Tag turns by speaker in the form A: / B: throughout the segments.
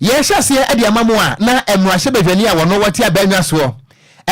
A: Yɛrehyɛ aseɛ de ama mo a na mmarahyɛ badwani a wɔno wɔte abannwa soɔ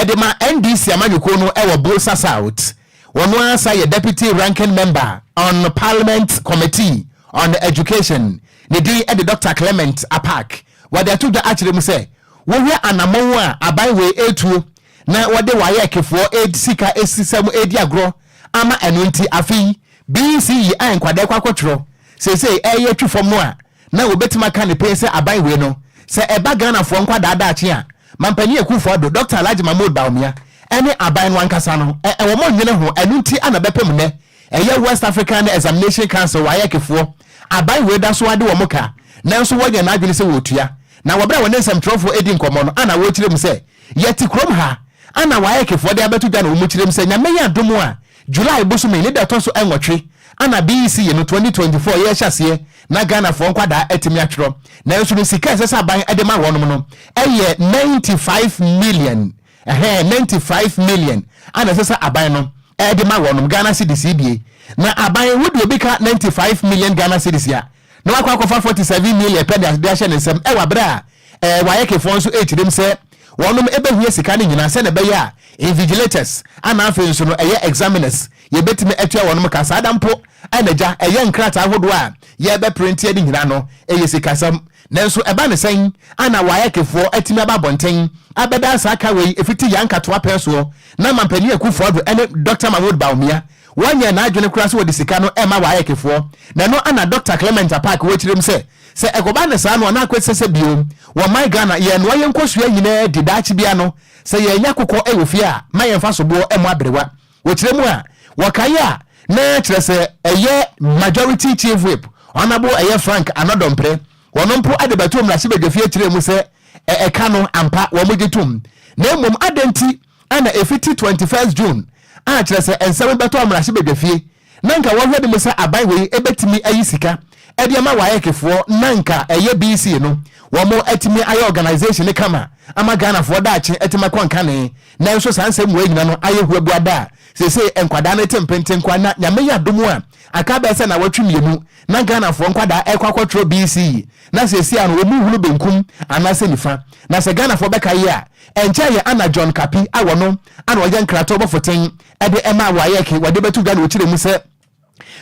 A: de ma NDC amanyɔkuo no wɔ Bolsa South, wɔno ara sa yɛ Deputy Ranking Member on Parliament Committee on Education, ne din de Doctor Clement Apaak. Wɔde ato dwa akyerɛ mu sɛ wohwɛ anammɔn a aban wei retuo na wɔde WAEC foɔ ed sika sisa mu redi agorɔ ama ɛno nti afe yi BCE a nkwadaa rekɔ akɔtwerɛ seesei reyɛ twi fam no a na wɔbɛtumi aka no pee sɛ aban wei no, sɛ ɛba Ghanafoɔ nkwadaa daakye a, Mampanin Akuufo Addo, Dɔkta Alhaji Mahmood Bawumia ne aban no ankasa no, wɔn nnwene ho, ɛno nti na bɛpem nnɛ ɛyɛ West African Examination Council, WAEC, foɔ, aban wei da so ara de wɔn ka, nanso wɔyɛ wɔn adwene sɛ wɔretua. Na wɔ berɛ a wɔne nsɛmtwerɛfoɔ redi nkɔmmɔ no na wɔrekyerɛ mu sɛ, Yɛte kurom ha na WAEC foɔ de abɛto dwa na wɔkyerɛ mu sɛ, Nyame yɛ adom a, July bosome ne da ɛtɔ so nwɔtwe ana BEC yi no twenty twenty four yi rehyɛ aseɛ na Ghanafoɔ nkwadaa atumi atwerɛ nanso no sika a ɛsɛ sɛ aban de ma wɔnom no yɛ ninety five million ɛhɛɛ ninety five million ana ɛsɛ sɛ aban no de ma wɔnom Ghana cedis yi die na aban wodeɛ obi ka ninety five million Ghana cedis a na wakɔ akɔfa forty seven million pɛ de ahyɛ ne nsam wɔ bere a ɛɛ Wayekefoɔ nso rekyirim sɛ wɔnom bɛhia sika no nyinaa sɛdeɛ ɛbɛyɛ a Invigilators ana afei nso no ɛyɛ Examiners yɛbɛtumi atua wɔnom ka saa da mpo a na gya ɛyɛ nkrataa ahodoɔ a yɛrebɛprinteɛ no nyinaa no ɛyɛ sikasɛm nanso ɛba no sɛn ana Wayekefoɔ atumi aba abɔnten abɛdaa saa ka wei ɛfiti Yankatoa pɛn soɔ na Mampanin Akuffo-Addo ne Doctor Mahmoud Bawumia Wanyɛ n'adwene koraa sɛ ɔde sika no rema Waec-foɔ, na ɛno na Dɔkta Clement Apaak wɔ akyire mu sɛ, sɛ ɛkɔba no saa no a na akɔ ɛsɛ sɛ bio, wɔ my Ghana, yɛnoa yɛn nkosua nyinaa di daakye biara no, sɛ yɛannya kokɔ wɔ fie a, ma yɛmfa soboɔ mmɔ aberewa. Wɔ kyerɛ mu a, wɔkaeɛ a, na kyerɛ sɛ ɛyɛ Majority Chief Whip, Honourable ɛyɛ Frank Anɔdɔmprɛ, ɔno mpo de bɛtoo mmarahyɛbadwafie kyerɛɛ mu sɛ ɛɛ ɛka no, ampa, wɔgye tom. Na mmom adɛn nti? Ana efiti twenty first June a kyerɛ sɛ nsɛm bɛtɔ mmarahyɛbadwafie na nka wɔhwɛ de mu sɛ aban wei bɛtumi ayi sika de ama waec foɔ na nka ɛyɛ BC no wɔn atumi ayɛ organisation no kama ama Ghanafoɔ daakye atumi akɔ nkane nanso saa nsɛm wei nyina no ayɛ huabuada a seesei nkwadaa no te mpente nkoa na Nyame yɛ adom a aka bɛyɛ sɛ nawɔtwe mmienu na Ghanafoɔ nkwadaa ɛkɔ akɔtwerɛ BC na seesei ano wɔn hunu benkum anaasɛ nifa na sɛ Ghanafoɔ bɛkaeɛ a Ɛnkyɛe yɛ Anna John Kapi a ɔno ara na ɔyɛ nkratoɔ bɔfo ten de ɛmaa WAEC wɔde bɛto dwa na ɔkyerɛ mu sɛ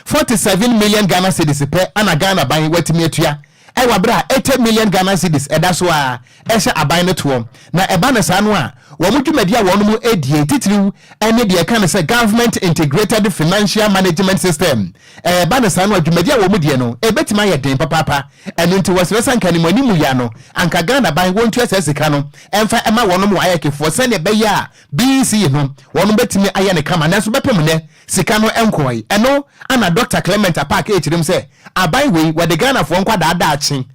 A: forty seven million Ghana cedis pɛ na Ghana ban watumi atua wɔ bere a eighty million Ghana cedis ɛda so ara ɛhyɛ aban no toɔ na ɛba no saa no a wɔn dwumadi a wɔnom die titiriw ne deɛ ɛka no sɛ Government Integrated Financial Management System Ɛreba no saa no a, dwumadi a wɔn deɛ no ɛbɛtumi ayɛ den papaapa. Ɛno nti wɔsrɛ sɛ anka animuanimu yi ano, anka Ghanaban wɔntua saa sika no mfa ɛma wɔnom WAEC foɔ sɛdeɛ ɛbɛyɛ a BEC yi no wɔnom bɛtumi ayɛ no kama. Nanso bɛpem nnɛ sika no nkɔɔe. Ɛno na Dɔkta Clement Apaak ɛrekyerem sɛ aban wei wɔde Ghanafoɔ nkwadaa daakye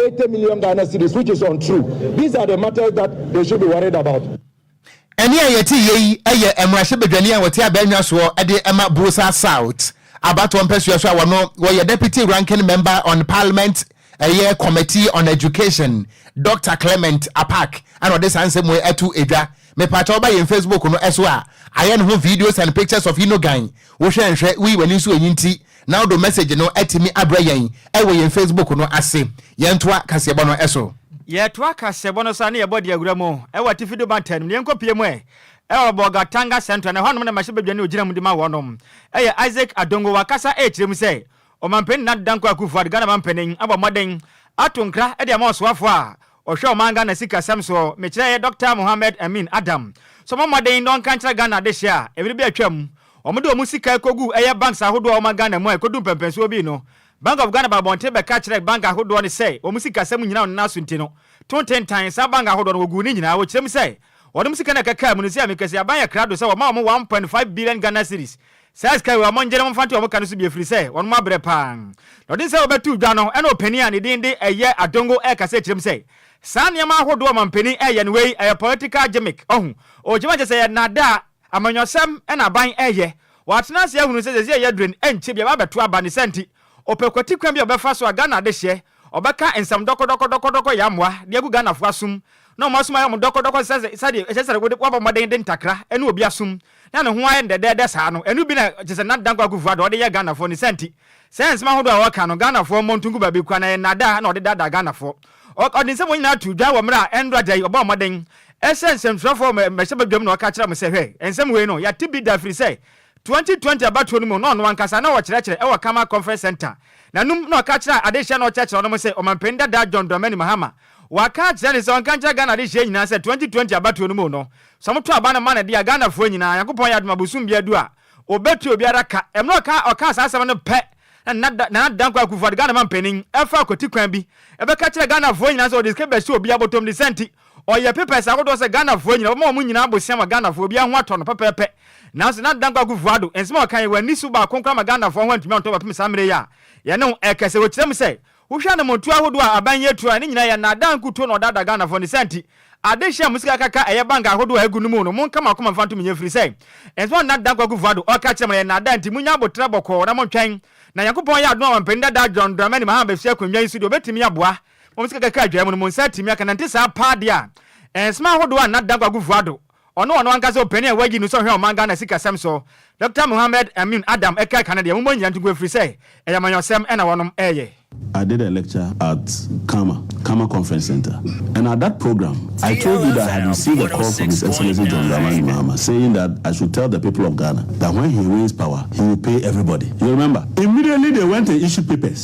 B: Eighty million Ghana cedis which is untrue these are the
A: matters that they should be worried about. Ɛnne a yɛteeɛ yi yɛ mmarahyɛbadwani a ɔte Abɛɛnwa soɔ de ma Buosa South abatoɔ mpɛsoa so a ɔno ɔyɛ Deputy Ranking Member on Parliament ɛyɛ Committee on Education Doctor Clement Apaak ɛna ɔde saa nsɛm wei ato dwa. Mepakyɛw ba yɛn Facebook no so a ayɛ ne ho videos and pictures of Inogan Wohwɛ nhwɛ, wuyi w'ani so eyi nti na wode wo message no atumi abrɛ yɛn wɔ yɛn Facebook no ase. Yɛntoa kaseɛbɔ no so. Yɛtoa
C: kaseɛbɔ no so a na yɛbɔ de awura mu wɔ atifi do mantam no mu. Yɛnkɔ pue mu ɛ wɔ Bolgatanga Central, na ɛhɔnom na mmarahyɛbadwani a ogyina mu de ma wɔnom yɛ Isaac Adongo. Wakasa ɛrekyerɛ mu sɛ Ɔmanpanin Nana Dankwa Akufo-Addo, Ghana Manpanin, abɔ mmɔden ato nkra de ama ɔsoafo a Ɔhwɛ ɔman Ghana sikasɛm soɔ mekyerɛ yɛ Doctor Mohammed Amin Adam sɛ ɔmɔ mmɔden na ɔnka nkyerɛ Ghana adehyeɛ a mmere bi atwam ɔmɔ de ɔmɔ sika ɛkɔguu ɛyɛ banks ahodoɔ a ɔma Ghana mu a ɛkɔdu mpɛmpɛnsoɔ bii no Bank of Ghana baa abɔnten bɛka kyerɛ bank ahodoɔ no sɛ ɔmɔ sikasɛm nyinaa ɔnena asunti no to ntentan saa bank ahodoɔ no wɔguu ne nyinaa wɔkyerɛ mu sɛ ɔnom sika na ɛkɛkaa mu no sɛ mekɛse aban yɛ krado sɛ wɔma ɔmɔ one point five billion Ghana cedis Saa sika yi, wɔn ngyene, wɔmfa nto wɔn ka no so bi ɛfirisɛ wɔnom abrɛ paa. Na ɔdene sɛ wɔbɛtoo dwa no, ɛna ɔpanin a nedin de ɛyɛ Adongo ɛɛkasa akyirɛ mu sɛ, Saa nneɛma ahodoɔ a ɔmampanin ɛɛyɛ no wei ɛyɛ political gimmick, ɔhu, ɔɔgyimi akyerɛ sɛ ɛyɛ nnaadaa, amanyɔsɛm ɛna aban ɛɛyɛ. Wɔatena ase ahunu sɛ sɛsei ɛyɛ durn ɛnkyɛ biaa bɛabɛto aba, ne saa nti Ɔpɛ kwati kwan bi a ɔbɛfa so a Ghana adehyeɛ, ɔbɛka nsɛm dɔkɔdɔkɔ dɔkɔdɔkɔ yɛ amoa de agu Ghanafoɔ asom na wɔn asom ayɛ wɔn dɔkɔdɔkɔ te sɛ sɛdeɛ ɛsɛ sɛ wode woabɔ mmɔden de ntakra ɛne obi asom na ne ho ayɛ no dɛdɛɛdɛ saa no, ɛno bi na te sɛ Nat Dankwa Akufo-Addo ɔde yɛɛ Ghanafoɔ, ne saa nti saa nsɛm ahodoɔ a ɔreka no Ghanafoɔ mmɔ nto ngu baabi koraa na ɛyɛ nnaadaa na ɔde daadaa Ghanafoɔ. Ɔ, ɔde nsɛm wɔ nyinaa too dwa wɔ mmerɛ a ɛnora da yi ɔbɔɔ mmɔden sɛ nsɛmtwerɛfoɔ wɔ mmarahyɛbadwam na ɔka kyerɛɛ wɔn sɛ hwɛ, nsɛm wei no yɛate bi da ɛfiri sɛ 2020 abatoɔ no mu na ɔno ankasa na ɔkyerɛkyerɛ wɔ Karma Conference Centre na num na ɔka kyerɛɛ adehyeɛ na ɔkyerɛkyerɛ no mu sɛ Ɔmanpanin dadaa John Dramani Mahama waka akyerɛ no sɛ ɔnka nkyerɛ Ghana adehyeɛ nyinaa sɛ 2020 abatoɔ no mu no sɛ ɔmoto aba no ma no dea Ghanafoɔ nyinaa Nyankopɔn yɛ adom a bosom biara du a ɔbɛtua obiara ka ɛmmerɛ ɔka ɔkaa saa asɛm no pɛ na Nana Nana Dankwa Akufo-Addo Ghana Manpanin ɛfa akwati kwan bi ɛbɛka kyerɛ Ghanafoɔ nyinaa sɛ ɔde sika bɛhyɛ obiara bɔtɔmdisa nti Ɔyɛ pepɛs ahodoɔ sɛ Ghanafoɔ nyina wɔma wɔn nyina aboseam a Ghanafoɔ obiara ho atɔ no pɛpɛɛpɛ nanso Nana Dankwa Akufo-Addo nsɛm a ɔka yi wanni so baako koraa ma Ghanafoɔ ho antumi antɔ bɛpem saa mmerɛ yi a yɛne wo ɛrekɛsɛ wɔ kyerɛ mu sɛ wohwɛ anamontuo ahodoɔ a aban yi atu a ne nyina yɛ naadaa nkuto na ɔdaadaa Ghanafoɔ ne saa nti ade hyɛ mo sika kaka a ɛyɛ bank ahodoɔ a ɛgu no mu no monka mo akoma mfa nto mo yɛ ɛfiri sɛ nsɛm a Nana Dankwa Akufo-Addo ɔka kyerɛ mo no yɛ naadaa nti monya aboterɛ bɔkɔɔ na montwɛn na Nyankopɔn yɛ adom a Ɔmampanin Dadaa John Dramani Mahama bɛfiri akonnwa yi so deɛ ɔbɛtumi aboa Mo sika kakra a edwae mu no, mo nsa atumi aka. Nante saa paa de a, nsɛm ahodoɔ a Nna Dankwa Akufo Addo, ɔno ɔno ankasa ɔpanin a wɔayi no sɛ ɔhwɛ ɔman Ghana sikasɛm so, Dɔkta Mohammed Amin Adam ɛkaa ka no deɛ, mommɔ nnyina nto gu ɛfiri sɛ, ɛyɛ amanyɔsɛm na wɔnom reyɛ. I did a lecture
D: at Khama, Khama Conference Centre, and at that program I told you that I had received a call from His Excellency John Dramani Mahama saying that I should tell the people of Ghana that when he wins power, he will pay everybody. You remember? Immediately they went and issued papers.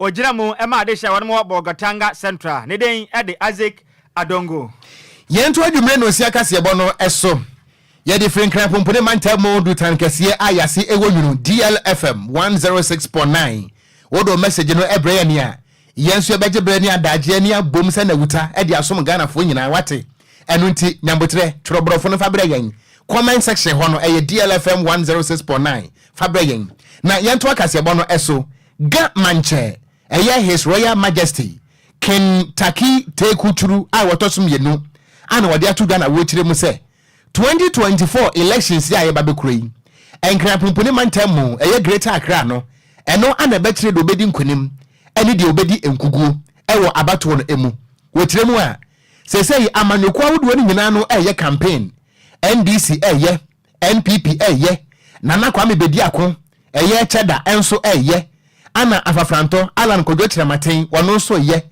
C: Ogyina mu ma adehye a wɔnom wɔ Bolgatanga Central. Ne den de Isaac Adongo. Yɛnto
A: adwumerɛ nonsia kaseɛbɔ no so. Yɛde firi Nkran Pompone Mantam mu Dutan Kɛseɛ a yɛase wɔ Nwunu, DL FM 106.9. Wode wo mɛsegye no brɛ yɛn a, yɛn nso yɛbɛgye berɛ ne adaagyeɛ ani abom sɛ Nawuta de asom Ghanafoɔ nyinaa, woate? Ɛno nti, nya mboterɛ, twerɛ borɔfo no fa brɛ yɛn. Comment section hɔ no, ɛyɛ DL FM 106.9. Fa brɛ yɛn. Na yɛntoa kaseɛbɔ no so. Ga Mankyɛ, ɛyɛ His Royal Majesty Ken Taki Teku Turu a wɔtɔ so mmienu a na wɔde ato Ghana awokyire mu sɛ 2024 elections yi a yɛba bɛkura yi, Nkran Punpuni Mantam mu, ɛyɛ Greater Accra no, ɛno ana ɛbɛkyerɛ deɛ ɔbɛdi nkunim ne deɛ ɔbɛdi nkuguo wɔ abatoɔ no ɛmu. Wɔ kyerɛ mu a, seesei amanyɔkuo ahodoɔ no nyinaa no ɛreyɛ campaign, NDC ɛreyɛ, NPP ɛyɛ Nana Kwame Bediako ɛyɛ ɛkyɛ da ɛnso ɛyɛ Anna Afafrantɔ Allan Kwadwo Kyerɛmaten wɔno nso ɛyɛ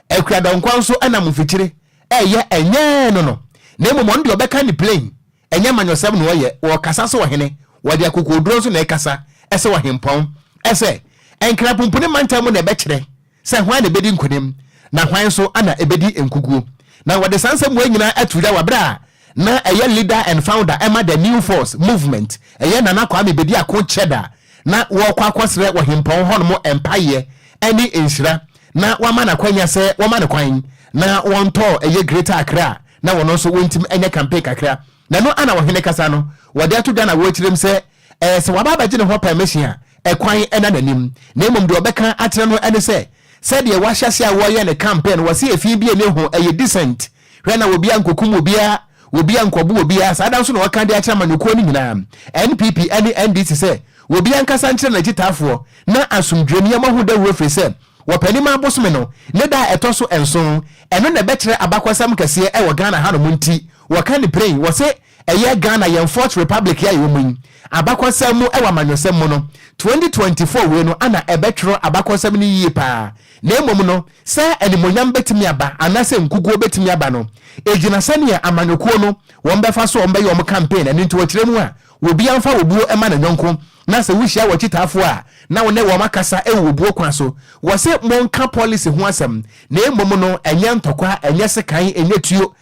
A: Akua Dankwa nso ɛnam mfikyire ɛyɛ ɛnyɛɛ no no na mmom ɔno deɛ ɔbɛka ne plain ɛnyɛ manyɔsɛm na ɔyɛ ɔɔkasa sɛ ɔhene wɔde akokoɔduro nso na ɛkasa ɛsɛ ɔhempɔn ɛsɛ Nkrapumpuni mantam mu na ɛbɛkyerɛ sɛ hwan na ebedi nkonim, na hwan nso na ebedi nkoguo. Na wɔde saa nsɛmmoa yi nyinaa ato dwa wɔ berɛ a na ɛyɛ leader and founder ɛma the New Force Movement, ɛyɛ Nana Kwame Bediako Kyɛda, na wɔrekɔ akɔsrɛ ɔhempɔn hɔnom mpaeɛ ɛne nhyira na wɔama no akwanya sɛ wɔma no kwan na wɔntɔ ɛyɛ Greater Accra na wɔn nso wɔntumi ɛnyɛ campaign kakra Na ɛno ara na ɔhene kasa no, wɔde ato dwa na wɔrekyerɛ mu sɛ ɛyɛ sɛ waba abɛgye ne hɔ pɛrmehye a ɛkwan nna n'anim, na mmom deɛ ɔbɛka akyerɛ no ne sɛ, sɛdeɛ wɔahyɛ aseɛ a wɔreyɛ ne campaign no, wɔse ɛfii bi ɛnni ho, ɛyɛ decent, hwɛ na obiara nkɔkum obiara, obiara nkɔbo obiara, saa da nso na ɔreka de akyerɛ amanyɔkuo no nyinaa, NPP ne NDC sɛ obiara nkasa nkyerɛ n'akyitaafoɔ na asomdwoeɛ nneɛma ho dawuro ɛfiri sɛ Ɔpɛnima bosome no ne da a ɛtɔ so nson, ɛno na ɛbɛkyerɛ abakɔsɛm kɛseɛ wɔ Ghana hanom nti Wɔka no pira yi, wɔse ɛyɛ Ghana yɛn fourth republic yi a yɛwɔ mu yi abakɔsɛm mu wɔ amanyɔsɛm mu no, twenty twenty four wei no ana ɛbɛtwerɛ abakɔsɛm no yie paa na mmom no sɛ animuonyam bɛtumi aba anaasɛ nkuguo bɛtumi aba no ɛgyina sɛdeɛ amanyɔkuo no wɔn bɛfa so a wɔn bɛyɛ wɔn campaign ɛno nti wɔkyerɛ mu a obiara mfa obuo mma ne yɔnko na sɛ wohyia wɔkyitaafoɔ a na wo ne wɔn akasa wɔ obuo kwan so wɔse monka policy ho asɛm na mmom no ɛnyɛ ntɔkwa ɛnyɛ sekan ɛnyɛ tuo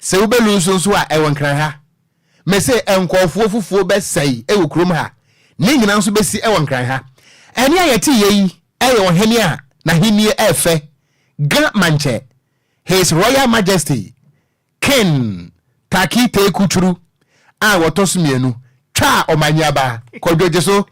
A: Sɛ wo bɛ lu nso nso a ɛwɔ nkran ha. Me se nkɔɔfoɔ fufuo bɛ sɛe ɛwɔ kurom ha. Ne nyina nso bɛ si ɛwɔ nkran ha. Ɛne a yɛ te yɛ yi ɛyɛ ɔhene a n'ahennie ɛɛfɛ ga ma nkyɛ, His Royal Majesty King Taki Teku Curu a wɔtɔ so mmienu twaa ɔmanyiaba Kwadwo Gyeso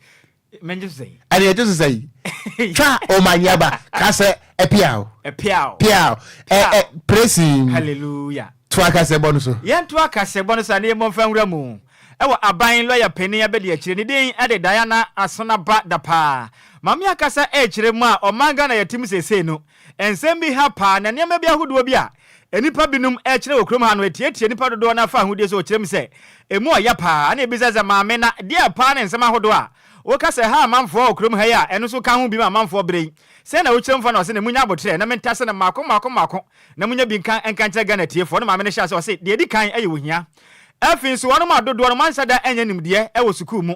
A: Mɛngye so
C: sɛn? Ɛne ɛgye so sɛn?
A: Twa omanyaba ka sɛ ɛpiaw. Ɛpiaw. Piaw. Ɛ ɛ presin. Hallelujah. To
C: akasɛbɔ no
A: so. Yɛn to akasɛbɔ no so a
C: ne yɛn bɔ nfa nwura mu. Ɛwɔ aban lɔya panin abɛdi akyire ne din ɛde Diana Asonaba Dapaa. Maame akasa ɛkyerɛ mu a ɔman Ghana yɛte mu seesei no. Nsɛm bi ha paa na nneɛma bi ahodoɔ bi a nnipa binom kyerɛ wɔ kurom ha no atiatia nnipa dodoɔ no ara fahudeɛ so, ɔkyerɛ mu sɛ ɛmu ɔya paa ɛna ɛbisa sɛ, Maame, na deɛ paa ne nsɛm ahodoɔ a woka sɛ ɛha amanfoɔ wɔ kurom ha yi a ɛno nso ka ho bi ma amanfoɔ berɛ yi? Sɛn na wokyerɛ mu fa no? Ɔse, na monya aboterɛ na mentase no mmaako mmaako mmaako na monya bi nka nka nkyerɛ Ghana atiefoɔ. Ne maame no hyɛ aseɛ ɔse, Deɛ ɛdi kan ɛyɛ ohia. Afei nso wɔnom a dodoɔ no moanhyɛ da annya nimdeɛ wɔ sukuu mu.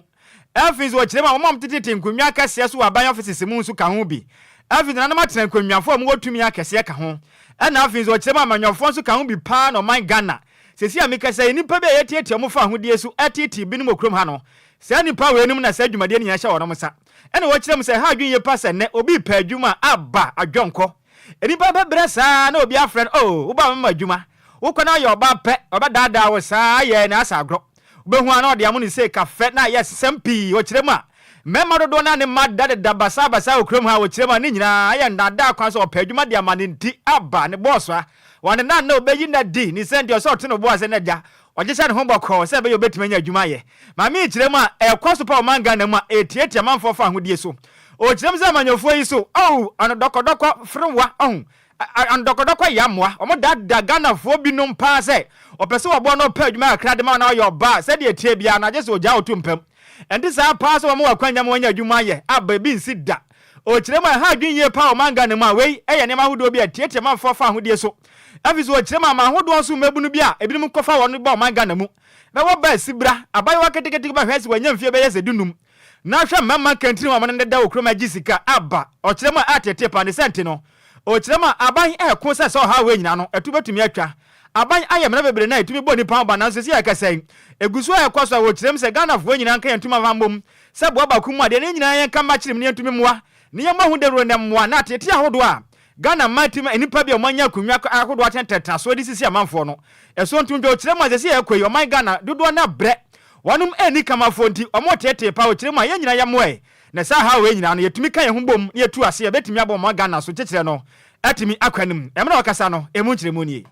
C: Afei nso wɔkyerɛ mu a wɔn a wɔtetetete nkonnwa akɛseɛ so wɔ aban offices mu nso ka ho bi. Afei nso nananom atena nkonnwafoɔ a wɔwɔ tumi akɛseɛ ka ho. Ɛna afei nso wɔkyerɛ mu a amanyɔfoɔ nso ka ho bi paa na ɔman Ghana. Seesei a mekasa yi, nnipa bi a yɛtiatia wɔn fa ahodeɛ su teetee binom wɔ kurom ha no, saa nnipa weinom na saa dwumadie no nyinaa hyɛ wɔnom nsa. Ɛna wɔkyerɛ mu sɛ ɛha adwene yie paa sɛ nnɛ obi repɛ adwuma a, aba, adwɔnkɔ. Nnipa bɛpɛ berɛ saa ara na obi afrɛ no, oh, wobaa mɛma adwuma. Wokɔ na woyɛ ɔbaa pɛ, wɔbɛdaadaa wo saa ara, yɛɛ na asa agorɔ. Wubehu a na ɔde amono sei kafɛ na ayɛ nsɛm pii wɔ kyerɛ mu a mmarima dodoɔ no ara ne mma da deda basaa basaa wɔ kurom ha wɔ kyerɛ mu a ne nyinaa ayɛ nnaadaa kwan so ɔpɛ adwuma de ama ne nti aba ne bɔɔso a ɔne na nnɛ ɔbɛyi nna adi ne sɛn deɛ ɔsɛ ɔto ne bo ase na agya ɔgye hyɛ ne ho bɔkɔɔ sɛ ɛbɛyɛ ɔbɛtumi anya adwuma ayɛ maame yi kyerɛ mu a ɛkɔ so pa ɔman Ghana mu a ɛtiatia amanfoɔ fa ahodie so ɔkyerɛ mu sɛ amanyɔfoɔ yi so oh ano dɔkɔdɔkɔ ferewa ɔho A Ndɔkɔdɔkɔ yɛ amoa. Wɔn da da Ghanafoɔ bi nom paa sɛ ɔpɛ sɛ ɔboa na ɔpɛ adwuma kakra de ma na ɔyɛ ɔbaa sɛdeɛ ɛteɛ biara no agye sɛ ɔgyaa ɔto mpam. Ɛnte saa paa sɛ wɔn wɔ akwanya ma wɔanya adwuma ayɛ a baabi nsi da. Ɔkyerɛ mu a ɛha adwene yie paa wɔ man Ghana mu a wei yɛ nneɛma ahodoɔ bi a ɛtiatia manfoɔ fa ahodie so ɛfiri sɛ ɔkyerɛ mu a ma ahodoɔ so mmabunu bi a ebinom kɔfa wɔn ba ɔman Ghana mu bɛwɔ ba asibra abayewa ketekete bɛhwɛ sɛ wanya mfeɛ bɛyɛ sɛ du num Na hwɛ mma mma kɛntini wɔn ne deda wɔ kurom agye sika aba ɔkyerɛ mu a ateetee paa ne sɛ nte no ɔkyerɛ mu a aban reko sɛ sɛ ɔhaw wei nyinaa no ɛto bɛtumi atwa aban ayɛ mmara bebree na ɛtumi bɔ nnipa ho ban nanso sɛ yɛkasa yi ɛgu so a ɛkɔ so a ɔkyerɛ mu sɛ Ghanafoɔ nyinaa nka yɛn ntom mfa mmom sɛ boa baako mu adeɛ na yɛn nyinaa yɛnka mma kyerɛ mu na yɛntumi mmoa na yɛmmɔ ho dawuro na mmoa na ateetee ahodoɔ a Ghana mmaa ti ma nnipa bi a wɔanya akonnwa ahodoɔ akyɛn ntentenasoɔ de sisi amanfoɔ no so nto dwa ɔkyerɛ mu a seesei ɛrekɔ yi ɔman Ghana dodoɔ no abrɛ wɔnom anni kama afoɔ nti wɔreteetee paa ɔkyerɛ mu a yɛn nyinaa yɛmmoa yi na saa haw wei nyinaa no yɛtumi ka yɛn ho bom na yɛtu ase a ɛbɛtumi aboa ɔman Ghana so kyekyerɛ no atumi akɔ anim. Mmerɛ a ɔkasa no ɛmu nkyerɛmu nie.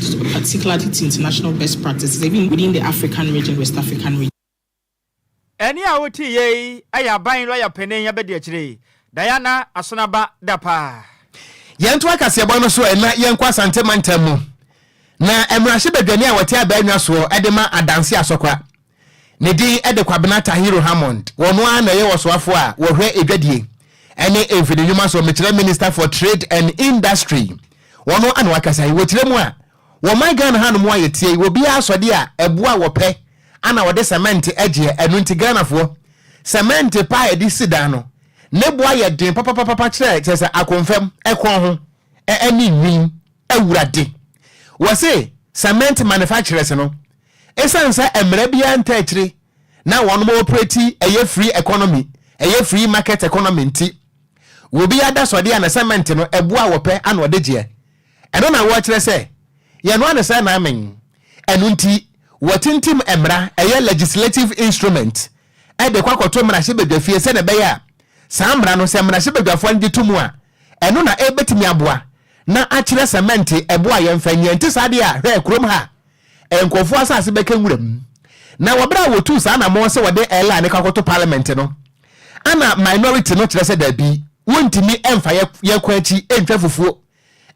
E: Sukuu particular to to international best practices even within the African region, West African region.
C: Ɛnne a wote yɛ yi yɛ aban lɔya panin abadiakyire, Diana Asonaba Dapaah. Yɛnto
A: akaseɛbɔ no so na yɛnkɔ Asante mantam mu na mmarahyɛbadwani a wɔte Abaa Nwa soɔ de ma Adanse Asɔkora. Ne din de Kwabena Tahiru Hammond. Ɔno ara na ɔyɛ ɔsoafo a wɔhwɛ adwadie ne mfini nnwuma so, mekyerɛ Minister for Trade and Industry. Ɔno na ɔakasa yi. Wɔkyerɛ mu a, wɔ ɔman Ghana hanom a yɛteɛ yi, obiara asɔde a ɛboɔ a wɔpɛ na wɔde cement gyeɛ. Ɛno nti Ghanafoɔ, cement pa a yɛde si dan no, ne bo ayɛ den papapapapa kyerɛ kyerɛ sɛ akonfam ɛkorɔn ho ne nwin. Awurade, wɔse cement manufacturers no, Esiane sɛ mmara biara ntaa akyire na wɔn operate ɛyɛ free economy, ɛyɛ free market economy nti, obi adasɔdeɛ a ne cement no ɛboɔ a wɔpɛ ana ɔde gyeɛ. Ɛno na wɔkyerɛ sɛ yɛnoa no sɛ naamen. Ɛno nti wɔtintim mmara, ɛyɛ legislative instrument, de kɔ akɔto mmarahyɛbadwafie sɛdeɛ ɛbɛyɛ a saa mmara no sɛ mmarahyɛbadwafoɔ no gye to mu a Ɛno na ɛbɛtumi aboa na akyerɛ sɛ mɛnte ɛbo a yɛmfa nyi. Ɛnte saa deɛ a, hwɛ, kurom ha a, nkurɔfoɔ asase bɛka nwura mu. Na wɔ berɛ a wɔtuu saa anammɔn sɛ wɔde Airline no kɔ akɔto Parliament no, ɛna minority no kyerɛ sɛ dabi, wɔntumi mfa yɛn yɛn kwan akyi ntwa fufuo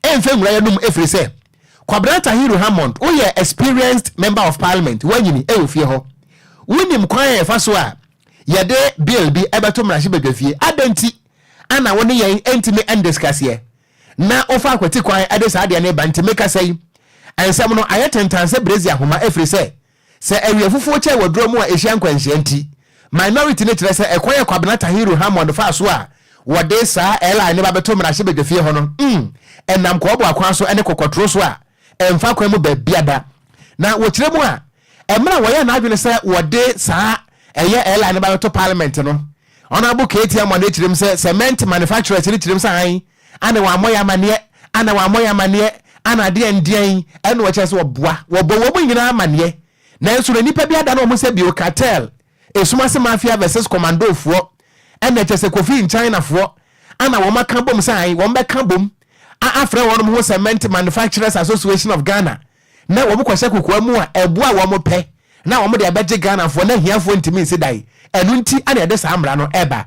A: mfa nwura yɛn anom ɛfiri sɛ, Kwabena Tahiru Hammond, woyɛ experienced Member of Parliament, woanyini wɔ fie hɔ. Wonim kwan a yɛfa so a yɛde Bill bi bɛto mmarahyɛbadwafie. Adɛn nti Ana wo ne yɛn ntumi ndiscuss yɛ na wo fa akwati kwan de saa adeɛ no reba nti me kasa yi nsɛm no ayɛ tentan sɛ brezia homa ɛfiri sɛ sɛ awia fufuo kyɛɛ wɔ duro mu a ɛhyia nkwanhyia nti minority no kyerɛ sɛ ɛkwan a Kwabena Tahiru Hammond faa so a wɔde saa LI no ba bɛto mmarahyɛbadwafie hɔ no mm ɛnam kɔɔboa kwan so ne kɔkɔtoro so a Ɛmfa kwan mu baabiada. Na wɔkyerɛ mu a, mmerɛ a wɔyɛɛ n'adwene sɛ wɔde saa ɛyɛ airline no ba bɛto parliament no, Honourable Katie Amoah na ɛkyerɛ mu sɛ cement manufacturers no kyerɛ mu sɛ ae ana wɔammɔ yɛn amanneɛ, ana wɔammɔ yɛn amanneɛ, ana adeɛ andiɛn, ɛna wɔkyerɛ sɛ wɔboa, wɔbɔ wɔn nyinaa amanneɛ, nanso na nnipa bi adane wɔn ho sɛ bill cartel Esum ase mafia vs commando foɔ ɛnɛ kyɛ sɛ Kofi nchina foɔ ana wɔn aka bom sɛ ae wɔn bɛka bom a afrɛ wɔn ho cement manufacturers association of Ghana na wɔn kɔ hyɛ kokoa mu a ɛbo a wɔn pɛ na wɔn de abɛgye Ghana foɔ na ahiafoɔ ntumi nsi dan ɛno nti ana ɛde saa mmara no ɛba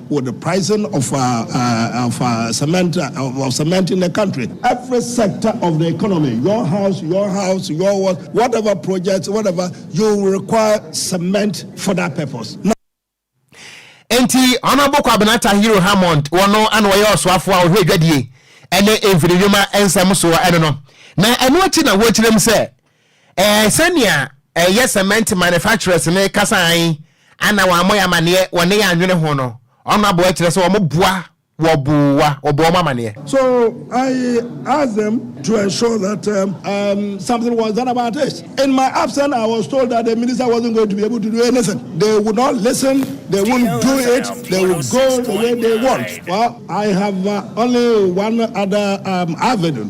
F: Wo the pricing of of cement of cement in the country. Every sector of the economy your house your house your what whatever project whatever you require cement for that purpose. Na.
A: Enti Honourable Kwabena Tahiru Hammond wɔno ɛna wɔyɛ ɔsoafo a ɔhwɛ dwadie ɛne mfirinwuma nsɛm soɔ ɛno no na ɛno akyi na wɔkyerɛm sɛ Ɛɛ, sɛnea ɛyɛ cement manufacturers no kasa ae ana wɔammɔ yɛn amanneɛ wɔ ne yɛn anwene ho no, ɔno aboa kyerɛ sɛ wɔboa wɔ boa wɔbɔ wɔn amanneɛ.
F: So I asked them to ensure that um, um, something was done about this. In my absence, I was told that the minister wasn't going to be able to do anything. They would not listen, they wouldn't do it, they would go the way they want. Well, I have uh, only one other um, avenue.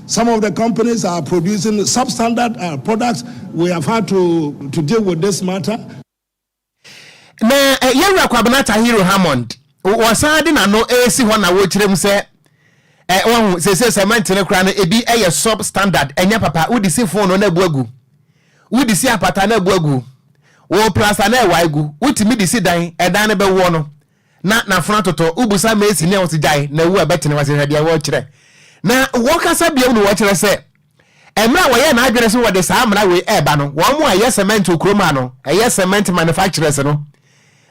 F: Some of the companies are producing substandard uh, products. We have had to, to deal with this matter.
A: Na eh, yɛwura Kwabena Tahiru Hammond wɔsan de n'ano resi hɔ na wɔkyerɛ mu sɛ eh, wɔn sese cement no koraa no ebi eh, yɛ sub standard ɛnyɛ papa wodi si fon no na ebu agu wodi si apata na ebu agu wɔ plasta na ɛwa agu wotumi di si dan ɛdan no bɛwoɔ no na n'afono atotɔ, wobisa Mercy nea ɔte gyae na wu a ɛbɛtene w'ase hwɛ deɛ wɔrekyerɛ na wɔkasa biom no wɔkyerɛ sɛ mmerɛ a wɔyɛɛ n'adwene sɛ wɔde saa mmara wei ɛreba no wɔn a ɛyɛ cement wɔ kurom ha no ɛyɛ cement manufacturers no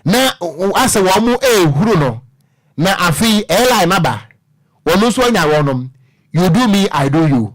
A: na asɛ wɔn ɛrehuru no na afei airline aba wɔn nso anya wɔnom you do me I do you.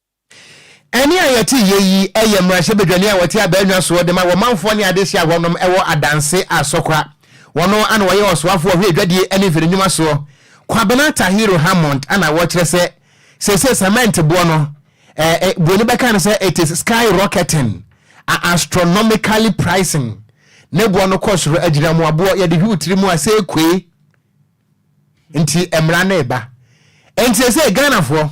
A: Ɛnne a yɛte yɛ yi yɛ mmarahyɛbadwani a ɔte Abaanwa soɔ de ma wɔ manfoɔ ne adehyeɛ ahoɔ nom wɔ Adanse Asokwa. Ɔno na ɔyɛ ɔsoafoɔ hwɛ adwadie ne mfirinwuma soɔ. Kwabena Tahiru Hammond na ɔkyerɛ sɛ seesei cement boɔ no, eh, buroni bɛka no sɛ it is sky rocketing a astronomically pricing, ne boɔ no kɔ soro agyina mmoaboɔ yɛde hwiw tiri mu a seekue. nti mmara no reba nti sɛ ghanafoɔ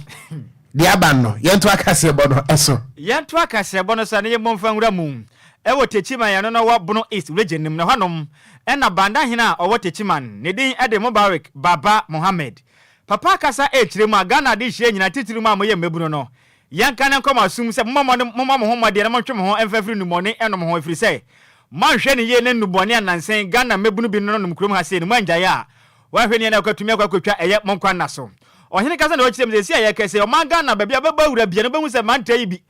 A: deɛ aba no yɛnto akaseɛbɔ no ɛso yɛnto akaseɛbɔ
C: no sa na yɛmmɔ mfa nwura mu ɛwɔ techiman ɛno no wɔ bono east region no mu na hɔnom ɛna banda hene a ɔwɔ techiman ne din ɛde mubarik baba mohammed papa kasa ɛrekyerɛ mu a ghana adehyeɛ nyina titiri mu a moyɛ mmabunu no Yɛnka no nkɔ mo aso mu sɛ, Mommɔ mmɔden, mommɔ mo ho mmɔden na montwe mo ho mfa mfiri nnubɔne nnom ho, ɛfiri sɛ, moanhwɛ no yie na nnubɔne a nnansa yi Ghana mmabunu bi nonom kurom ha sei no, moanngyae a, wɔanhwɛ no yie na wɔkatumi akɔ akɔtwa ɛyɛ mo nkwa nna so. Ɔhene kasa na ɔkyerɛɛ me sɛ, Seesei a yɛreka yi, sɛ ɔman Ghana baabi a wobɛbɔ awura biara no, wobɛhu sɛ mantaa yi bi.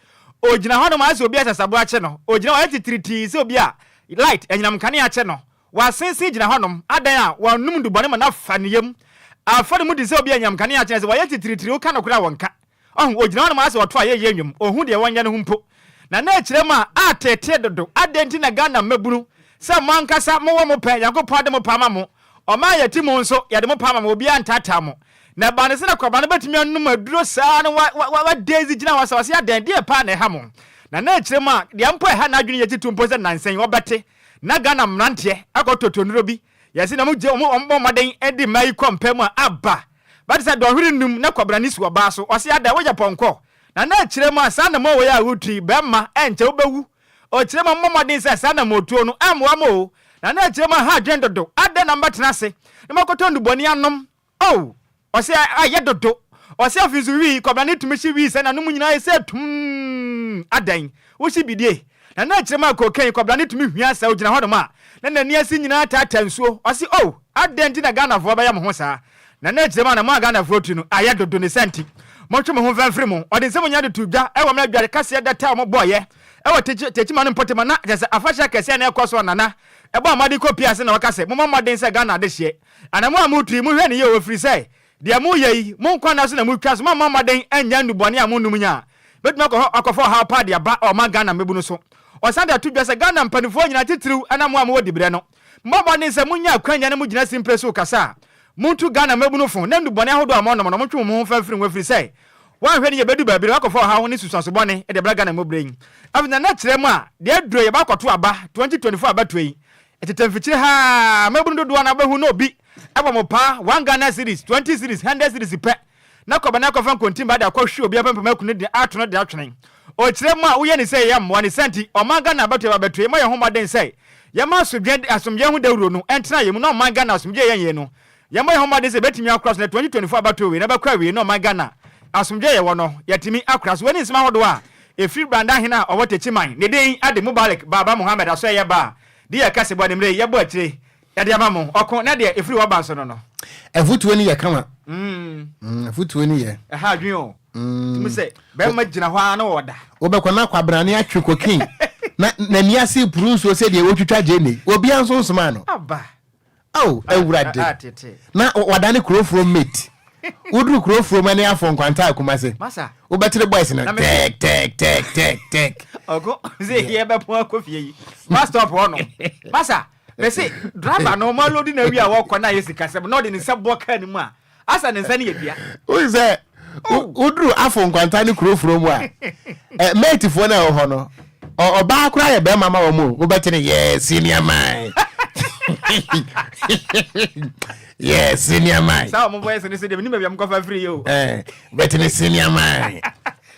C: Ɔgyina hɔnom ayɛ sɛ obi a asasaboa akye no. Ɔgyina hɔ ayɛ titiritii sɛ obi a light, anyinam nkanea, akye no. Wɔasensen gyina hɔnom adan a wɔanom nnubɔne ma no afa ne yam, afa ne mu te sɛ obi a anyam kanea akyene ase. Wɔayɛ titiriw ka nokorɛ a wɔnka. Ɔho, ogyina hɔnom ara sɛ ɔto ayɛyie nnwom, onhu deɛ wɔnyɛ no ho mpo. Na na ɛkyerɛ mu a, ateetee dodo, adɛn nti na Ghana mmabunu, sɛ mo ankasa mowɔ mo pɛ, Nyankopɔn ade mo paa ma mo, ɔman a yɛte mu nso, yɛde mo paa ma mo, obiara ntaataa mo. Na ɛbaa no sɛ na kwabrane bɛtumi anom aduro saa ara na wa, wa, wa, wa Daisy gyina hɔ asawase adɛn, deɛ paa na ɛha mo? Na na ɛkyerɛ mu a, deɛ mpo ɛha n'adwene yɛ titiriw mpo sɛ nnansa yi, wɔbɛte. Na Ghana mmeranteɛ akɔ toto nnuro bi, yɛse na wɔgye wɔn wɔn bɔ mmɔden de mmaa yi kɔ mpa mu a aba bɛte sɛ dɔnhwere nnum na kɔbena ne su ɔbaa so, ɔse adɛn woyɛ pɔnkɔ? Na na ɛkyerɛ mu a saa anamoo wei a woretu yi bɛmma ɛnkyɛ wobɛwu, ɔkyerɛ mu a mommɔ mmɔden sɛ saa anamoo tuo no ɛmmoa mo o, na na ɛkyerɛ mu a ha adwene dodo, adɛn na mobɛtena ase na moakɔtɔ nnubɔne anom? Oh! Ɔsɛ a yɛ dodo. Ɔsɛ afei nso wii, kɔbena ne tumi hye wii sɛ n'ano mu nyinaa ayɛ sɛ tumm! Adɛn? Wo hye bi die? Na na kyerɛma a cocaine kɔbena ne tumi hwia sɛ ogyina hɔnom a, na n'ani ase nyinaa taataa nsuo. Ɔse oh! Adɛn nti na Ghanafoɔ bɛyɛ mo ho saa? Na na kyerɛma na mo a Ghanafoɔ tiri no ayɛ dodo ne saa nti, montwe mo ho mfa mfiri mu. Ɔde nsɛm nyinaa de too dwa wɔ mmerɛ adware kaseɛ data a wɔbɔeɛ wɔ Techi, Techiman no mpɔtam a na kyerɛ sɛ afahyɛ akɛseɛ na ɛrekɔ so a Nana ɛbɔɔ mmɔden kɔpiaa ase na ɔka sɛ momɔ mmɔden sɛ Ghana adehyeɛ Ana mo a moretu yi, monhwɛ no yie o, ɛfiri sɛ, deɛ moreyɛ yi, mo nkwa nna so na moretwa, so moammɔ mmɔden annya nnubɔne a monnom nya a, ɛbɛtumi akɔ hɔ akɔfa ɔhaw pa de aba ɔman Ghana mmabunu so. Ɔsan de ato dwa sɛ, Ghana mpaninfoɔ nyinaa, titiriw ɛna mo a mowɔ diberɛ no, mommɔ mmɔden sɛ monya akwanya na mogyina simpire so rekasa a, montu Ghana mmabunu fo, na nnubɔne ahodoɔ a wɔnom no, montwe mo ho mfa mfiri ho, ɛfiri sɛ, woanhwɛ no yie, ɛbɛdu baabi na woakɔfa ɔhaw ne susuanso bɔne de abra Ghana mu berɛ yi. Afei nana kyerɛ mu a, deɛ aduro yi, ɛbɛakɔto aba, 2024 abatoɔ yi, Tete mfikyire ha ara, mmabunu dodoɔ no ara bɛhu na obi bɔ mo paa, one Ghana cedis, twenty cedis, hundred cedis pɛ, na kɔ bɛnɛ kɔfa nkontimma de akɔhwe obi apempem akunu de ato no de atwene. Ɔkyerɛ mo a woyɛ ne sei ɛmmoa ne saa nti ɔman Ghana abatoɔ yɛba abɛtoe mɔ yɛn ho mmɔden sɛ yɛma asodwen asomdwoeɛ ho dawuro no ntena yɛn mu na ɔman Ghana asomdwoeɛ yɛn yei no Yɛmmɔ yɛn ho mmɔden sɛ yɛbɛtumi akora so na 2024 abatoɔ wei no bɛkɔ awiei na ɔman Ghana asomdwoeɛ a yɛwɔ no yɛatumi akora so. Wei ne nsɛm ahodoɔ a ɛfiri Branda hene a ɔwɔ Techiman, ne din ade Mubarak Baba Mohammed Asoɛyɛ Ba a deɛ yɛka sɛ bɔ ne mmerɛ yi yɛbɔ akyire yɛde ama mo, ɔko na deɛ ɛfiri w'aba nso no no. Afutuo no yɛ
A: kama. Mm, afutuo no yɛ. Ɛha adwene o.
C: Mm. Tumi sɛ, bɛrima gyina hɔ ara na ɔda. Wobɛkɔ na kwabrane
A: atwe kokin. na n'ani ase puru nsuo sɛ deɛ wɔtwitwa gyene. Obiara nso nsomaa no. Aba.
C: Ao Awurade,
A: na wadane kuro forom mate. Woduru kuro forom ɛne afɔ nkwanta a Kumase. Wobɛkyere
C: boys no
A: tɛɛk tɛɛk tɛɛk tɛɛk tɛɛk. Ɔko
C: sɛ yɛ bɛ pon akɔ fie yi. Bus stop hɔ no. Masa, mese driver no ɔmo alodi na awie a wɔkɔ na ayɛ sikasɛm na ɔde ne nsa bɔ car no mu a Asa ne nsa no yɛ dua. Woyi sɛ
A: woduru afo nkwanta ne kuro furo mu a eh, mɛtifoɔ no a ɛwɔ hɔ no ɔbaa koraa yɛ bɛrima ma wɔn o wobɛte no yɛ senior man yɛ senior man. Saa wɔn voice no sɛ deɛ menim
C: baabi a mokɔfa firi yɛ o. Bɛte no
A: senior man.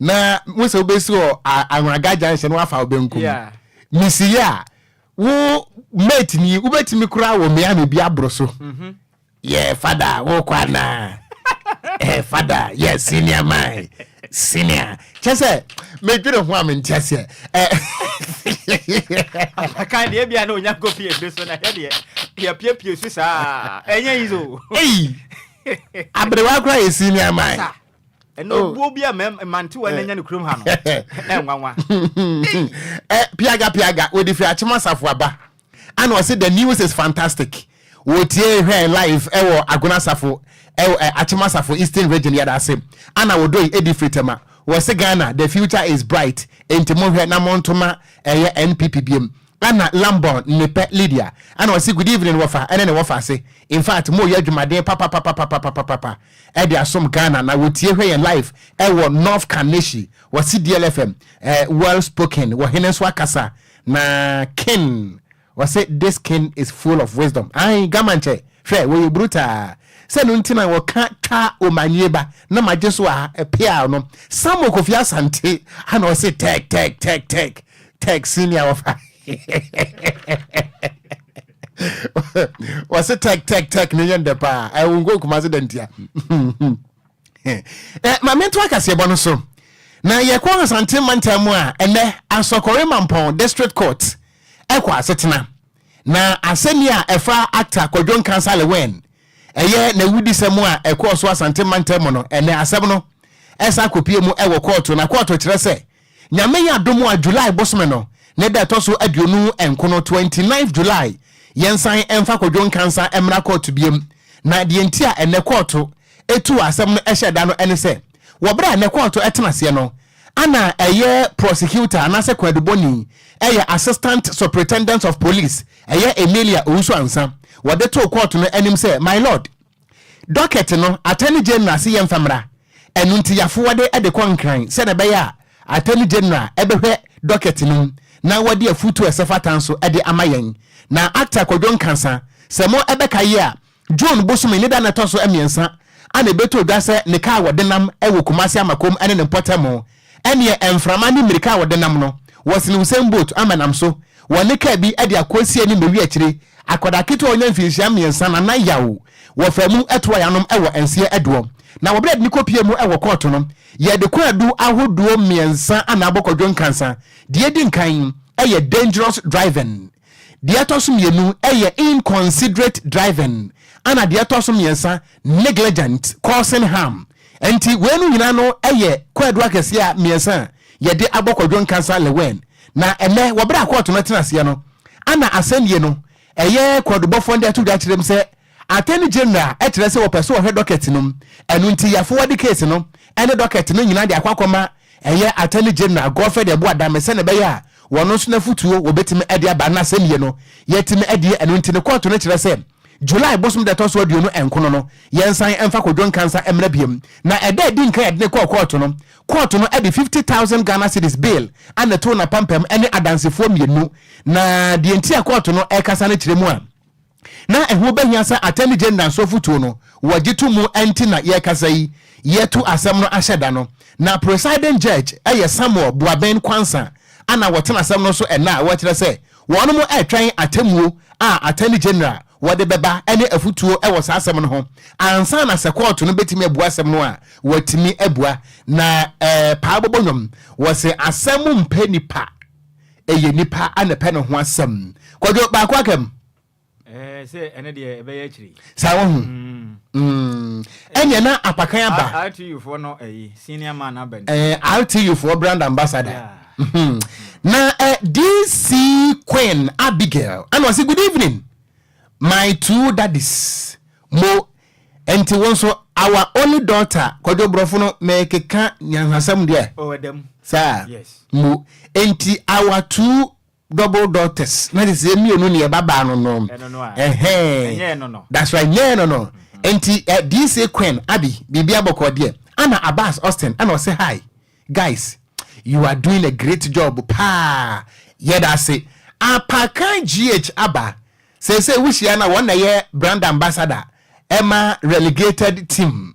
A: na wo sɛ wobɛsi wɔ ahraga junction no wafa wo bɛnkum mesi yɛ a wo mate ni wobɛtumi koraa wɔ miami bi aboro so mhm. yɛ fada wokɔ anaa eh, fada yɛ senior man senior kyɛ sɛ medwene ho a mente aseɛ eh.
C: apaka deɛ bia na ɔnya kɔfie ɛde so na yɛdeɛ yɛpiapie so saa ɛnyɛ yi so ei
A: aberewa koraa yɛ senior man ɛnna oh. obuo
C: bi a mmantewa na eh. nya ne kurom ha no ɛnwanwa. Eh, piaga
A: piaga wɔde firi akyem asafo aba ana ɔsi the news is fantastic wɔtie hwɛ live ɛwɔ agona asafo ɛwɔ eh, akyem asafo eastern region yɛda ase ana wɔdɔ yi edi firi tɛma wɔsi ghana the future is bright nti mo hwɛ na mo ntoma ɛyɛ npp biem ana lambon nepɛ lydia ana ɔsi good evening wɔfa ɛne ne wɔfa ase in fact mo yɛ adwumaden papapapapapapa. ɛde asom Ghana na wɔtie hwɛ yɛn live ɛwɔ North Kaneshie wɔ CDL FM eh, well spoken wɔ hene nso akasa na kin wɔse this kin is full of wisdom ae gamankyɛ hwɛ wɔyɛ brutaa sɛ no nti na wɔka twa omanie ba na magye so a ɛpea no Samuel Kofi Asante ana ɔse tɛk tɛk tɛk tɛk tɛk senior wɔfa wɔse tɛk tɛk tɛk ne yɛ ndɛ paa ɛwo nkɔ kuma se dɛ ntia ma mento akaseɛbɔ no so na yɛkɔ asante mantam mu a ɛnɛ asɔkɔre mampɔn district court ɛkɔ asetena na asɛnni a ɛfa actor kɔdwo nkansa lewen ɛyɛ n'awudisɛm a ɛkɔɔ so asante mantam mu no ɛnɛ asɛm no ɛsa akɔpie mu ɛwɔ kɔɔto na kɔɔto kyerɛ sɛ Nyame adom a July bosome no ne da ɛtɔ so aduonu nkono, twenty ninth July, yɛnsan mfa Kwadwo Nkansah mmra kɔɔto biom. Na deɛ nti a ɛnnɛ kɔɔto tuu asɛm no hyɛɛ da no ne sɛ, wɔ berɛ a ɛnnɛ kɔɔto tenaseɛ no, ana ɛyɛ prosecutor anaasɛ kwadubɔni, ɛyɛ Assistant Supritendent of Police, ɛyɛ Emilia Owusu-Ansah, wɔde too kɔɔto no anim sɛ, My Lord, Docket no, Attorney General se yɛmfa mmra, ɛno nti yɛafoɔde de kɔ Nkran sɛdeɛ ɛbɛyɛ a Attorney General bɛhwɛ docket no mu na wadi afutuo a ɛsɛfata nso de ama yɛn. Na Actor Kwadwo Nkansa, sɛ mo bɛkaye a, June bosome ne da no ɛtɔ so mmiɛnsa ana ɛbɛtoo dwa sɛ ne kaa wɔ denam wɔ Kumasi Amakom ne ne mpɔtamu Ɛnneɛ mframa ne mmirika a wɔde nam no, wɔsene Usain Bolt ama nam so, wɔ ne kaa bi de akɔ asie ne mmɛwi akyire. Akwadaa ketewa a ɔnya mfinhyia mmiɛnsa na nan yaw wɔ fam mu toa y'anom wɔ nseɛ ɛdoɔ. Na wɔberɛ yɛde no kɔpie mu wɔ kɔɔto no, yɛde kwaadu ahodoɔ mmiɛnsa na abɔ kɔdwo nkansa. Deɛ ɛdi nkan yɛ dangerous driving. Deɛ ɛtɔ so mmienu yɛ inconsiderate driving ɛna deɛ ɛtɔ so mmiɛnsa negligent causing harm. Ɛnti wei nom nyinaa no yɛ kwaadu akɛseɛ a mmiɛnsa a yɛde abɔ Kwadwo Nkansah Lewin. Na ɛnnɛ wɔ berɛ a kɔɔto no atena aseɛ no ɛna asɛnnie no ɛyɛ kwaadubɔfoɔ no de ato dwa akyerɛ mu sɛ Attorney General kyerɛ sɛ wɔpɛ sɛ wɔhwɛ docket no mu, ɛno nti yɛafo wɔde case no ne docket no nyinaa de akɔ akɔma ɛyɛ Attorney General Godfred Abu Adame sɛnea ɛbɛyɛ a wɔn nso n'afotuo wɔbɛtumi de aba na asɛm yɛ no yɛatumi adie ɛno nti no kɔɔto no kyerɛ sɛ July bosom da ɛtɔ so aduonu nkono no yɛnsan mfa Kojo Nkansah mmra biom na ɛda adi nkan yɛde no kɔɔ kɔɔto no kɔɔto no de fifty thousand Ghana cedis bail na ɛtoo n'apampam ne adansefoɔ mmienu na deɛ nti a kɔɔto no ɛrekasa no kyerɛ mu a na ɛho bɛhia sɛ Attorney General nso afotuo no wɔgye to mu nti na yɛrekasa yi yɛatu asɛm no ahyɛ da no. Na Presiding Judge yɛ Samuel Boabeng Quansah a na wɔtena asɛm no so ɛnnɛ a wɔkyerɛ sɛ wɔnom retwɛn atemmuo a Attorney General wɔde bɛba ne afotuo wɔ saa asɛm no ho ansa na sɛ kɔɔto no bɛtumi abua asɛm no a wɔatumi abua. Na Paa Bɔbɔ Nnwom wɔse asɛm mpɛ nipa. Ɛyɛ nipa a na ɛpɛ ne ho asɛm. Kwadwo, baako aka mu. Ɛɛ, sɛ
C: ɛne deɛ ɛbɛyɛ akyiri. Saa wahu.
A: Mm. Ɛneɛ na apakan aba. RTU foɔ no ɛyi,
C: senior man aba ni. Ɛɛ, RTU foɔ
A: brand ambassador. Yeah. na eh, DC Queen Abigail, ɛna ɔse good evening, my two daddies, mo Ɛnti wo nso our only daughter kwadwo brɔfo no mekeka nyanhasɛm deɛ oh ɛda mu saa yes mu
C: ɛnti
A: our two double daughters na te sɛ mmienu ne ɛba baa no no ɛno no a ɛnyɛ ɛno no
C: that's why nyɛ
A: ɛno no ɛnti uh, eh, DC Queen Abby biribi abɔkɔ deɛ ana Abbas Austin ana ɔsɛ hi Guys you are doing a great job paa yɛdase apakan GH aba seesei wohyia no a wɔn na ɛyɛ brand ambassador ɛma relegated team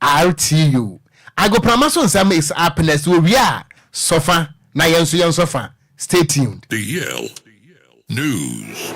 A: RTU agoprama so nsɛm is apness wɔwie a sɔfa na yɛn nso yɛn sɔfa Stay tuned. The Yale
G: News.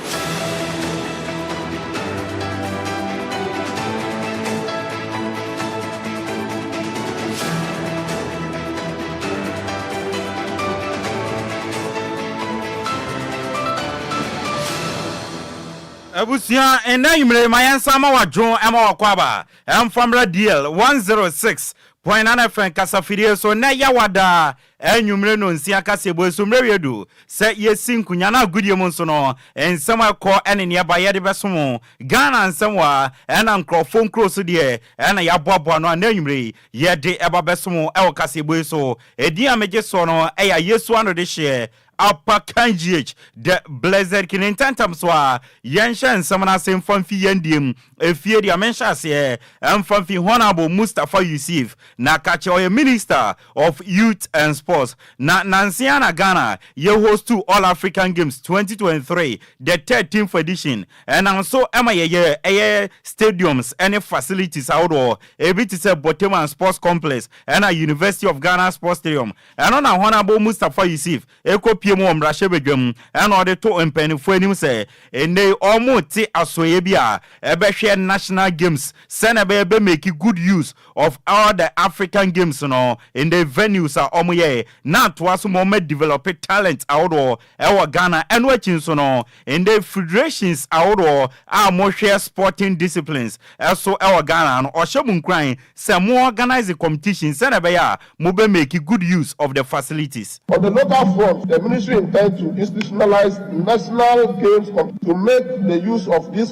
C: abusua ɛnna nwumire ma yɛn nsa ma wadwo ɛma wakɔ aba ɛnfamra deal one zero six point nine fm kasafidie so na ɛyɛ wadaa Anwummere nnɔnsia kaseɛbɔ so mmerɛ wie du sɛ yɛsi nkonyan agodie mu nso no, nsɛm a ɛkɔ ne nea ɛba yɛde bɛso mo. Ghana nsɛm wa na nkorɔfoɔ nkuro so deɛ na yɛaboaboa ano a na anwummere yi yɛde ba bɛso mo wɔ kaseɛbɔ yi so. Ɛdin a megye soɔ no yɛ Ayesu Anodehyeɛ Apa Kangyiech, The Blessed Kine Ntɛmntɛm so a, yɛnhyɛ nsɛm no ase mfa mfi yɛn deɛ mu. Efie deɛ me nhyɛaseɛ ɛmfa mfi Honourable Mustapha Yusif, na ka kyerɛ ɔyɛ Minister of Youth and Sports.
H: Na nansa yi ara na Ghana yɛ hostuu All African Games 2023, the thirteenth edition. Ɛnam so ma yɛyɛ ɛyɛ stadiums ne facilities ahodoɔ, ebi te sɛ Boteman Sports Complex ɛna University of Ghana Sports Stadium, Ɛno na hɔn abɔ Mustapha Yusif ekopue mu wɔ mbrahyɛbadwa mu na ɔdze too mpanyimfo enyim sɛ ndɛ yi wɔretse asoɛe bi a ɛbɛhwɛ National Games sɛnea ɛbɛyɛ bɛ make good use of all the African Games no ndɛ venues a wɔyɛe na atoa so ma wɔma develop talent ahodoɔ Ɛwɔ Ghana, ɛno akyi nso no, ndɛ federations ahodoɔ a wɔhwɛ sporting disciplines so ɛwɔ Ghana no, wɔhyɛ mo nkuran sɛ mo organise competitions sɛdeɛ ɛbɛyɛ a mo bɛ make good use of the facilities. On the local front,
B: the ministry intends to institutionalize national games competitions to make the use of these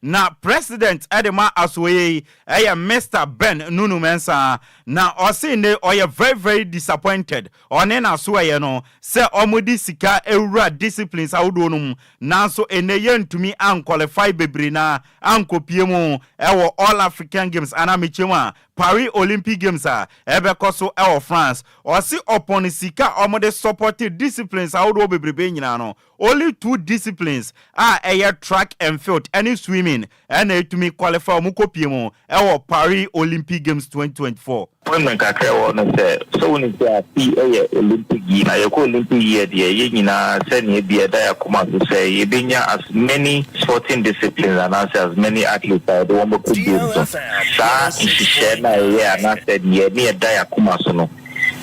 H: Na president de ma asoɛyɛ yi yɛ Mister Ben Nunu Mensah na ɔse nne ɔyɛ very very disappointed ɔne n'asoɛyɛ no sɛ ɔmo de sika awura disciplines ahodoɔ no mu nanso nnɛ yɛntumi anqualify bebree no ara ankɔpie mu wɔ All African Games anaa mekyia mu a Paris Olympic Games a ɛbɛkɔ so wɔ France. Ɔse ɔpon sika a ɔmo de supporte disciplines ahodoɔ bebrebe nyinaa no Only two disciplines a ɛyɛ track and field ɛne swimming ɛna ɛtumi qualify wɔn kɔ pie mu ɛwɔ Paris Olympic Games twenty twenty four. Point me nka kyerɛ wɔn
I: no sɛ, sɛ wonim sɛ afe yi ɛyɛ Olympic yi na yɛkɔ Olympic yi ɛ deɛ yɛn nyinaa sɛ nea ɛbi ɛda yɛn akoma so sɛ yɛbɛnya as many sporting disciplines anaasɛ as many athletes a yɛde wɔn bɛkɔ games no. Saa nhyehyɛɛ no a yɛyɛ anaasɛ deɛ ɛne ɛda yɛn akoma so no,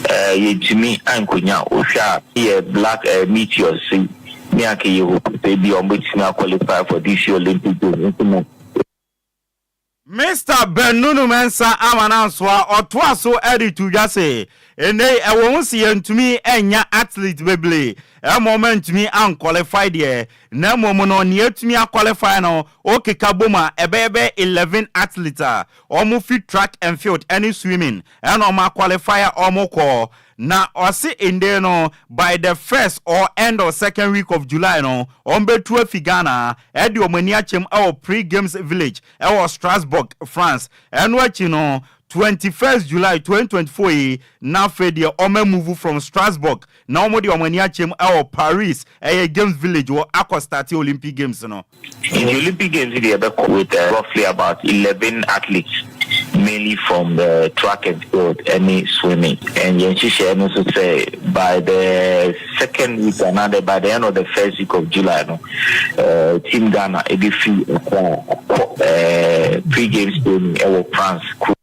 I: eh, yɛntumi ankonya wohwɛ a yɛ black eh, meteors si ne anka yɛ hope sɛ bi ɔmbɛtumi a qualify for this year Olympic Games nso mu.
H: Mister Benunu Mensah Amanansoa ɔtoa so de to dwa se, Nnɛ yi ɛwɔ ho se yɛntumi annya athletes bebree ɛma wɔn antumi anqualify deɛ, na mmom no nea atumi aqualify no wokeka bom a ɛbɛyɛ bɛyɛ eleven athletes a wɔfi track and field ne swimming ɛna ɔma qualify a ɔmo kɔ na ɔse ndɛ no by the first or end of second week of July no ɔmo bɛtu afi Ghana ɛde ɔmo ani akyɛm ɛwɔ Pre Games Village ɛwɔ Strasbourg France ɛno akyi no twenty first July twenty twenty four yi na afei deɛ ɔmo amuvu from Strasbourg Na wɔn de wɔn ani akyem wɔ Paris, ɛyɛ games village wɔ akɔ starte Olympic games no. Nti Olympic
I: games yi deɛ yɛbɛkɔ with roughly about eleven athletes mainly from the track and field ɛne swimming and yɛn nhyehyɛɛ no nso sɛ by the second week anaa the by the end of the first week of July no team Ghana ɛbɛfiri Accra akɔ pre games training ɛwɔ France kuro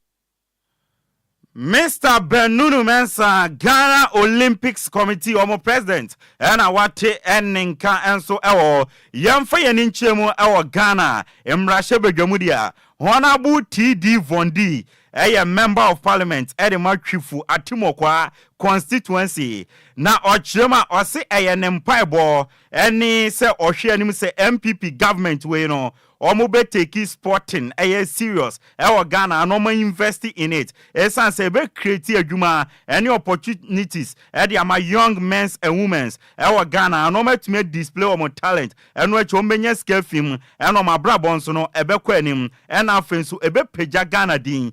H: Mister Benunu Mensah, Ghana Olympics Committee wɔn President na wate ne nka nso wɔ Yɛmfa Yɛn Ani Nkyerɛ Mu wɔ Ghana Mmarahyɛ Badwam deɛ Honourable TD Vondi yɛ Member of Parliament de ma Twifu Atimokwaa Constituency na ɔkyerɛ mu a ɔse ɛyɛ ne mpaebɔ ne sɛ ɔhwɛ anim sɛ NPP Government wei no Ɔmo bɛ take sporting ɛyɛ serious ɛwɔ Ghana and ɔmo invest in it ɛsan sɛ ɛbɛ create adwuma ɛne opportunities ɛde ama young men's and women's ɛwɔ Ghana and ɔmo atumi a display ɔmo talent ɛno akyi ɔmo bɛnya sika afi mu ɛna ɔmo abrabɔ nso no ɛbɛkɔ anim ɛna afei nso ɛbɛ pagya Ghana din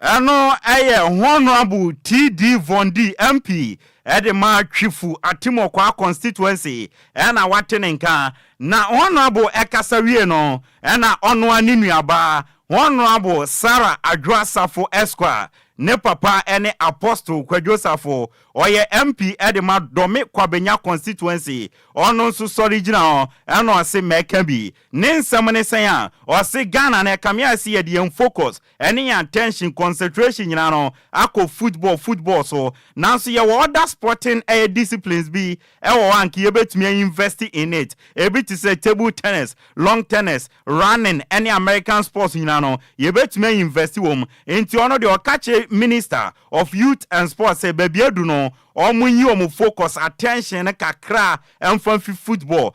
H: Ɛno yɛ Honourable TD Vondi MP de ma Twifu Atimokwa Constituency na wate ne nka na Honourable kasa wie no na ɔnoa ne nuabaa Honourable Sarah Adwoa Safo Esq ne papa ne Apostle Kwadwo Safo ɔyɛ MP de ma Dome Kwabenya Constituency ɔno nso sɔre gyina hɔ na ɔse mɛka bi Ne nsɛm ne sɛn a, ɔse Ghana no ɛkame ayɛ sɛ yɛde yɛn focus ne yɛn attention, concentration nyinaa no akɔ football, football so. Nanso yɛwɔ other sporting ɛyɛ disciplines bi wɔ hɔ a anka yɛbɛtumi a invest in it. Ɛbi te sɛ table tennis, long tennis, running ne American sports nyinaa no yɛbɛtumi a invest wɔ mu. Nti ɔno deɛ ɔka kyerɛ Minister of Youth and Sports sɛ baabi adu no wɔnyi wɔn focus, attention no kakra mfa mfi football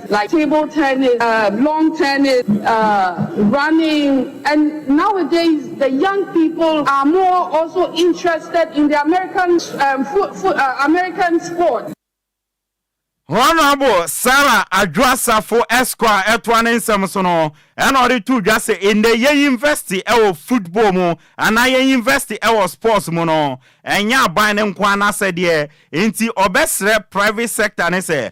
J: like table tennis, uh, long tennis, uh, running. And nowadays, the young people are more also interested in the American um, foot, foot, uh, American sport. Honorable
H: Sarah Adwoasafo Esquire ɛtoa ne nsɛm so no ɛna ɔde to dwa sɛ ɛnɛ yɛ university ɛwɔ football mu anaa yɛ university ɛwɔ sports mu no ɛnyɛ aban no nko anaasɛ deɛ nti ɔbɛsrɛ private sector ne sɛ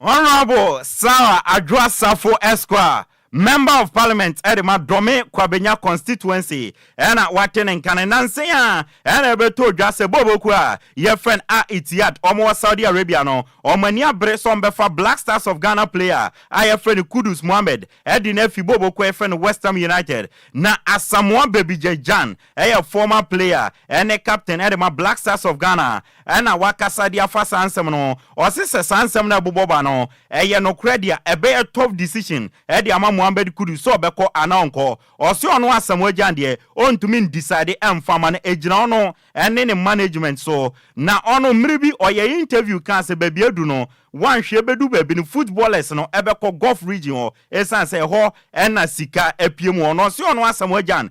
J: Honourable
H: Sarah Adwoa Sarfo Esquire, Member of Parliament de ma Dome Kwabenya Constituency na wate ne nka no nansa yi ara na ɛbɛtɔ dwa sɛ Bobo kuo a yɛfrɛ no Al-Ittihad, wɔn wɔ Saudi Arabia no, wɔn ani abere sɛ wɔbɛfa Black Stars of Ghana player a yɛfrɛ no Kudus Mohammed de no afi Bobo kuo a yɛfrɛ no West Ham United na Asamoah Babygye Gyan yɛ former player ne captain de ma Black Stars of Ghana na wakasa de afa saa nsɛm no. Ɔse sɛ saa nsɛm no a ɛbobɔ ba no yɛ nokorɛ de a, ɛbɛyɛ tough decision de ama Mohammed Kudus sɛ ɔbɛkɔ anaa ɔnkɔ. Ɔse ɔno Asamoah Gyan deɛ, ɔntumi ndecide mfa mma no, ɛgyina ɔno ne ne management so. Na ɔno, mmere bi ɔyɛɛ interview kaa sɛ baabi adu no, woanhwɛ bɛdu baabi no, footballers no bɛkɔ Gulf region hɔ, ɛsiane sɛ ɛhɔ na sika pie mu wɔ. Na ɔse ɔno Asamoah Gyan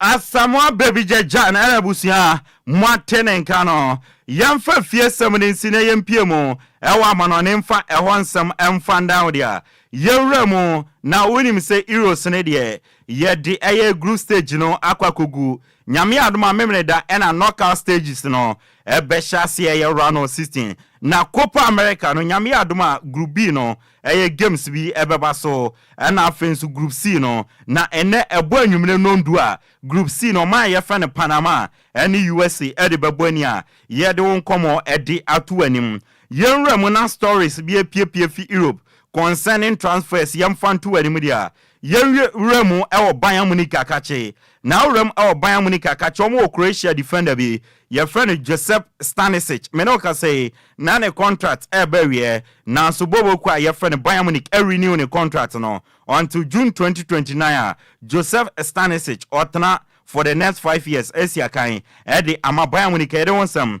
K: Asamoah
H: Babija Jan ɛna abusua a moate ne nka no. Yɛmfa afiesɛm no nsi na yɛmpue mu wɔ amanɔne mfa ɛhɔ nsɛm mfa ndan wo deɛ a yɛwura mu. Na wonim sɛ Eros no deɛ yɛde ɛyɛ group stage no akɔ akɔgu. Nyame adom a Memeneda ɛna knockout stages no bɛhyɛ aseɛ ɛyɛ round of sixteen. Na Copa America no Nyame adom a group B no Ɛyɛ games bi ɛbɛba so ɛna afei nso group C no na ɛnɛ ɛbɔ anwummerɛ nɔndu a group C no ɔman a yɛfrɛ no Panama ɛne usa ɛde bɛbɔ ani a yɛde wo nkɔmmɔ ɛde ato w'anim yɛn nwura mu na stories bi ɛpiepie fi Europe concerning transfers yɛmfa nto w'anim deɛ Yɛn we wura mu wɔ Bayern Munich akakye na awura mu wɔ Bayern Munich akakye wɔn wɔ Croatia defender bi yɛfrɛ no Josep Stanisic me ne wo kasa yi na ne contract reba awieɛ nanso booboo kuo a yɛfrɛ no Bayern Munich a renew ne contract no until June twenty twenty nine a Josep Stanisic ɔtena for the next five years asi akan de ama Bayern Munich yɛde wo nsɛm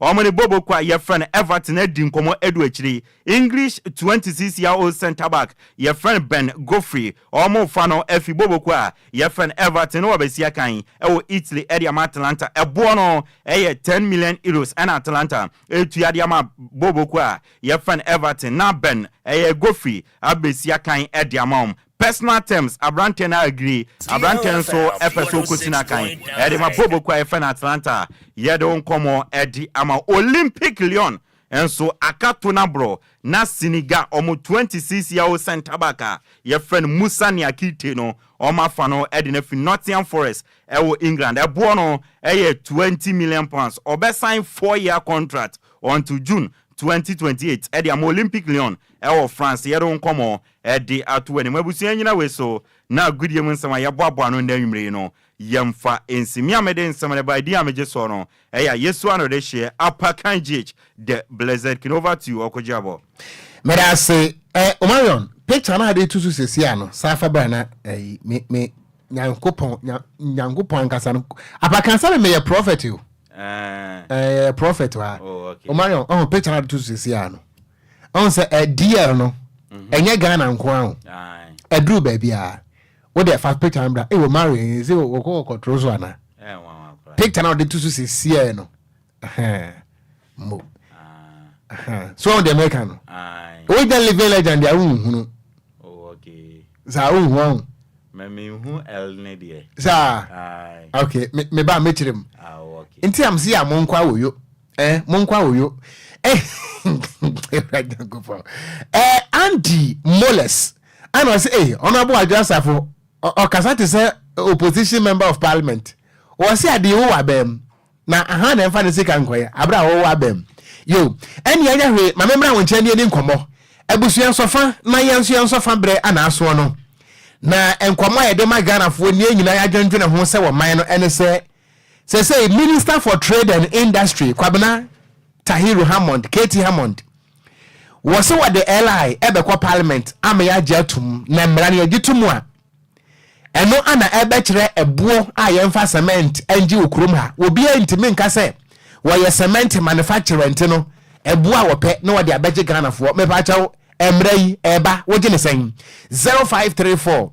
H: Wɔn ne Bobo ko a yɛfrɛ no Everton adi nkɔmmɔ adu akyire yi. English twenty six year old centre back yɛfrɛ no Ben Godfrey, wɔrefa no afi Bobo ko a yɛfrɛ no Everton no wɔabɛsi akan wɔ Italy de ama Atalanta. Ɛboɔ no yɛ ten million euros na Atalanta retua de ama Bobo ko a yɛfrɛ no Everton na Ben, ɛyɛ Godfrey, abɛsi akan de ama wɔn. Personal terms, Aberanteɛ no agree, aberanteɛ no nso pɛ sɛ ɔkɔsi no akan. Ɛde ma Bobo kuo a yɛfrɛ no Atlanta a yɛde wo nkɔmmɔ adi ama wo. Olympique Lyon nso aka to no aborɔ na Senegal, wɔn 26 year old centre back a yɛfrɛ no Moussa Niakite no, wɔafa no de no afiri Nottingham Forest wɔ England. Ɛboɔ no yɛ twenty million pounds. Ɔbɛsan four year contract until June 2028 de ama Olympique Lyon wɔ France. Yɛde wo nkɔmmɔ Ɛde ato w'anim, abusua nnyina wei so na agodie mu nsɛm a yɛboaboa ano nnɛ anwumerɛ yi no yɛmfa nsi. Me a mede nsɛm no ba, edin a megye soɔ no ɛyɛ Ayesu Ano Dehyeɛ, Apakan Gh. The Blessed King. Over to you Ɔko Gyirabɔ. Meda ase
A: ɛ Omarion, picture no a yɛde reto so seesei a no saa fa bra na ɛyi me me Nyankopɔn nya Nyankopɔn ankasa no Apakan sɛ me meyɛ prophet o Ɛɛ. ɛɛ prophet o aa Oh okay. Omarion ɔho picture no a yɛde to so seesei a no. ɔn sɛ eh, DL no mhm. ɛnyɛ Ghana nko ara o ɛduru baabi a wode fa picture no bra ɛwɔ mari ɛsɛ wɔkɔ kɔtoro so ana picture na wɔde to so sisiɛ no mo ah. so wɔn deɛ mɛka no ɔgya living legend deɛ wonhunu
H: saa wonhu
A: ahu
H: saa
A: ok meba mɛkyerɛ mu nti am
H: sɛ yɛ amonkɔ
A: awoyo Eh, monkɔ awoyo. Eh, Awurade Nyankopɔn. Eh, Andy Moles. Ana ɔsɛ, eh, Honorable Adwo Asafo, ɔkasa te sɛ opposition member of parliament. Wɔse ade wo wɔ abam. Na aha na ɛmfa ne sika nkɔyɛ, abere a wɔwɔ abam. Yo, ɛne ɛnyɛ hwee, ma memmra wo nkyɛn ne yɛni nkɔmmɔ. Abusua nsɔfa na yɛn nso yɛn nsɔfa berɛ ana asoɔ no. Na nkɔmmɔ a yɛde ma Ghanafoɔ nie nyinaa yɛadwendwene ho sɛ wɔ man no ɛne sɛ, Seesei Minister for Trade and Industry Kwabena Tahiru Hammond, Katie Hammond, wɔ se wɔde LI ɛbɛkɔ Parliament ama yɛagye atom na mmara no yɛgye tom a, ɛno ana ɛbɛkyerɛ ɛboɔ a yɛmfa cement ngye wɔ kurom ha. Obiara ntumi nka sɛ wɔyɛ cement manufacturerɛnti no ɛboɔ a wɔpɛ na wɔde abɛgye Ghanafoɔ. Mepaakyɛw, mmara yi ɛreba, wogye ne sɛn? 0534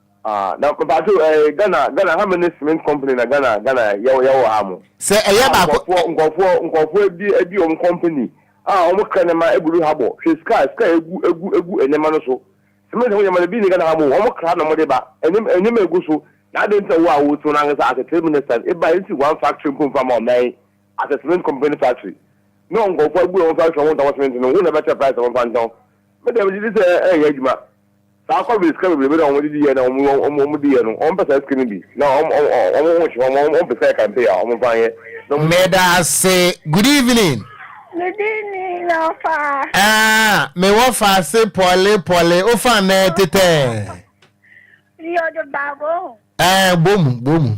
A: Ah na
L: mpacho eh Ghana Ghana how many cement company na Ghana Ghana yɛ yɛ wɔ ha mo. Sɛ ɛyɛ baako. Ah nkɔfoɔ
A: nkɔfoɔ nkɔfoɔ
L: adi adi wɔn company a wɔn kra nneɛma egu do ha bɔ hwɛ sika sika egu egu egu nneɛma no so cement ho nneɛma no ebi ni Ghana ha mo wɔn kra na wɔn de ba nneɛma nneɛma egu so na adan nti na wo a wo so na ankasa as a trade minister eba yɛn si one factory mpo nfa ma wɔn nan as a cement company factory na wɔn nkɔfoɔ agu wɔn factory wɔn ntɔn cement no wo na ɛbɛkyɛ price wɔn fa ntɔn mɛ dɛm gye di sɛ ɛyɛ adwuma Saa kɔbere sika bebrebe na wɔn de di yɛ na wɔn wɔn wɔn di yɛ no wɔn pɛ saa sika no bi na wɔn wɔn wɔn ho nhyɛ wɔn wɔn wɔn pɛ sɛ kampe a wɔn fa yɛ na wɔn. Meda
A: ase good evening. Me din
M: ni Yɔfa. Ɛɛa me
A: wɔ fa ase pɔle pɔle o fa nɛ tetɛɛ.
M: Yɔde bago. Ɛɛa bomu
A: bomu.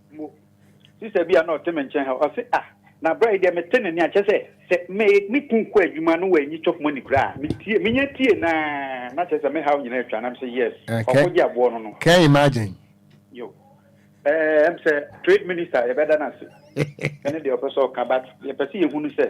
A: Mpo,
N: sista bi a na ɔte me nkyɛn ha, ɔse, Ah, na bra yi deɛ mete ne nne a, kyerɛ sɛ, sɛ me ne Kung kɔ adwuma no wanyi chop money koraa a, metie, menya tie no ara, na kyerɛ sɛ me haw nyinaa atwa, na mese, Yes, Eh, kɛ, ɔkɔgye aboɔ no no.
A: kɛ imagine. Yo,
N: eh, ɛm sɛ Trade Minister a yɛbɛda no ase, ɛne deɛ ɔpɛ sɛ ɔka, but deɛ yɛpɛ sɛ yɛhunu sɛ,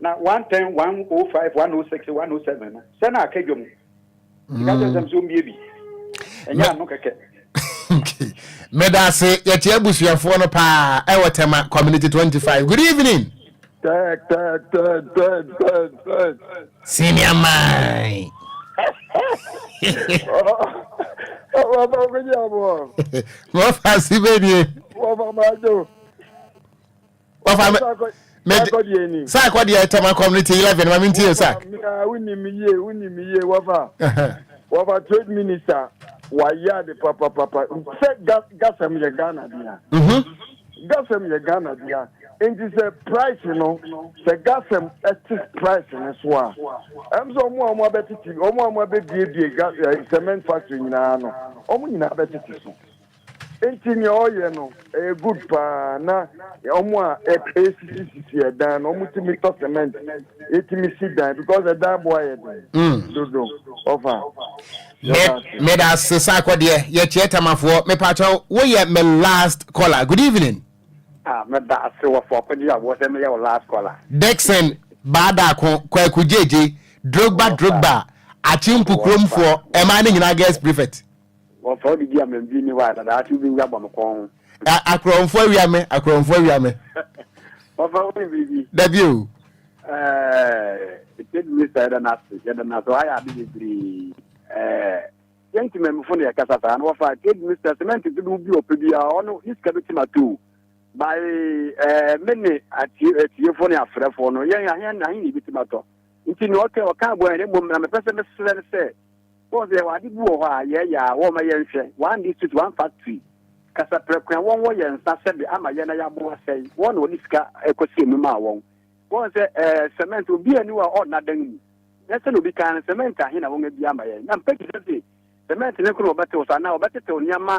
N: Na 110, 105, 106, 107 no, sɛ na aka dwom. Sika kyɛ sɛm sɛ ɔmbie bi. Ɛnyɛ ano kɛkɛ.
A: meda ase yɛte abusuafoɔ no paa ɛwɔ tɛma community 25 good evening senior man mɔfa si bɛdie mɔfa maadwo Wafa me. Mede saa akɔ deɛ ɛtɛm akɔm ne ti eleven ma mi n ti yɛ sa. Wuni mi yie wuni mi yie wafa
O: wafa trade minister wayɛ ade papapapa sɛ gasɛm yɛ Ghana dea. Mhm. Gasɛm yɛ Ghana dea nti sɛ price no sɛ gasɛm ɛte price no so a ɛm sɛ ɔmo a ɔmo abɛtete ɔmo a ɔmo abɛbiebie eh, cement factory nyinaa no ɔmo nyinaa abɛtete so. Nti nea ɔyɛ no ɛyɛ good paa na ɔmo a ɛsisi sisi ɛdan no ɔmo tumi tɔ cement ɛtumi si dan because ɛdan bo ayɛ den mm. dodo ɔfa
A: meda ase saa kɔdeɛ yɛkyeɛ tamafoɔ mepatwɛ woyɛ me last caller good evening ah, meda
N: ase wɔfoɔ kɔgye a wɔsɛ meyɛ wo last caller dixon
A: baadaako kwaku gyegye drogba drogba akyempu kuromfoɔ ɛmaa ne nyinaa girls prefect Wɔfa wo de di
N: amam dwinni hɔ a, na daakye wobɛwu abɔ me kɔn ho. A akorɔmfoɔ
A: awia me, akorɔmfoɔ awia me. Wɔfa
N: wo ne biribi. Dabi o.
A: Ɛɛ,
N: Ted Mister yɛda no ase, yɛda no ase, wayɛ ade bebree. Ɛɛ, yɛn nti mamifo na yɛkasa saa, na wɔfa Ted Mister sɛmɛnte dodow bi a ɔpɛ biara, ɔno ne sika bɛtumi ato o. By ɛɛ, me ne atie atiefo ne afrɛfo no, yɛn ahe ahe na yɛbɛtumi atɔ. Nti nea ɔka ɔka aboa yɛn, na mmom na mepɛ sɛ mesrɛ no sɛ, Wɔn sɛ yɛwɔ ade bi wɔ hɔ a yɛyɛ a wɔma yɛn hwɛ, one district one factory, kasa prɛko a wɔn wɔ yɛn nsa sɛbe ama yɛn na yɛabo asɛe, wɔn na wɔde sika ɛkɔ sie mu maa wɔn. Wɔn sɛ ɛɛ cement obi ani wɔ a ɔnna dan mu, na sɛnea obi kan no cement ahe na wɔn abia ama yɛn, na mpɛ bi sɛ se cement ne nko na wɔbɛtew so anaa wɔbɛtetew nneɛma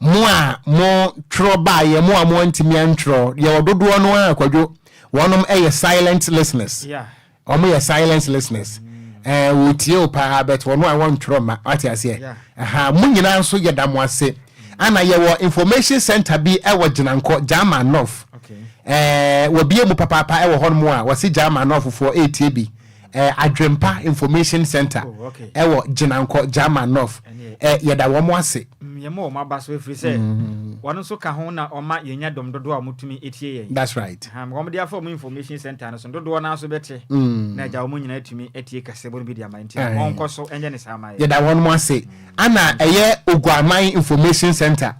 A: Mo a mo twerɛ baeɛ mo a mo antumi antwerɛ yɛwɔ dodoɔ no ara kwadwo wɔnom yɛ silent listeners Yeah. wɔn yɛ silent listeners ɛɛ wɔtie o paa but wɔn a wɔntwerɛ ma wate aseɛ Yeah. ɛha mo nyinaa nso yɛda mo ase ana yɛwɔ information center bi ɛwɔ gyinankɔ gyama nɔf Okay. ɛɛ wɔbie mu papaapa ɛwɔ hɔnom a wɔse gyama nɔfofoɔ ɛretie bi Ɛ, Adwempa Information Centre, Oh, ok. ɛwɔ Gyenankɔ, German North. Ɛneɛ. Ɛ, yɛda wɔn ase. Mm, yɛma wɔn aba so
C: ɛfiri sɛ wɔn nso ka ho na wɔma yɛnya dɔm dodoɔ a wɔtumi tie yɛn. That's right. Aha, ma wɔde
A: afa wɔn
C: information centre no so no, dodoɔ no ara nso bɛte Mm. na agya wɔn nyinaa atumi atie kasɛbɔ no bi de ama nti Aye. wɔnkɔ so nyɛ ne saa ma yɛn. Yɛda wɔn ase.
A: Ana ɛyɛ Oguaman Information Centre,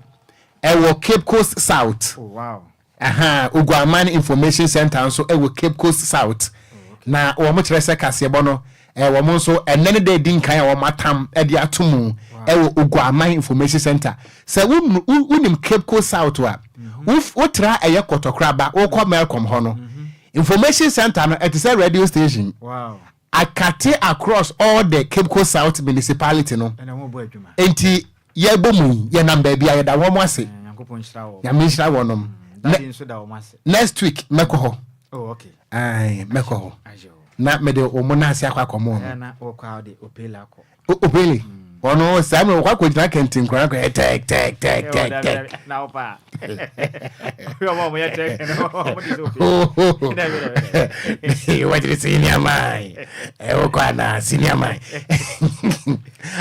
A: ɛwɔ Cape Coast South. Oh, wow.
C: Aha, Oguaman
A: Information Centre nso wɔ Cape Coast South, na wɔkyerɛ sɛ kaseɛbɔ no, wɔn nso, ɛnnɛ ne da a ɛdi nkan a wɔatam de ato mu wɔ Oguaman Information Centre. Sɛ wonim Cape Coast South a, wotra a ɛyɛ Kɔtɔkoraba, wokɔ Melcom hɔ no, Information Centre no, ɛte sɛ radio station.
C: Akate
A: across all the Cape Coast South municipality no nti yɛbɔ mu yi yɛnam baabi a yɛda wɔn ase nyame
C: nhyira wɔnom
A: next week mɛkɔ hɔ oh,
C: mɛkɔ hɔ
A: na mede wɔn nan ase akɔ akɔmɔ no
C: Oh, oh really?
A: ɔno saa mmerɛ wɔkɔ akɔgyina kɛnte nkora kɔ tɛk tɛk tɛk tɛk tɛk wɔgyere sɛ yɛni aman wokɔ anaa sini aman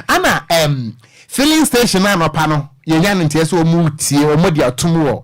A: ana filling station no anɔpa no yɛnya no nteɛ sɛ ɔmu tie ɔmɔdi atom wɔ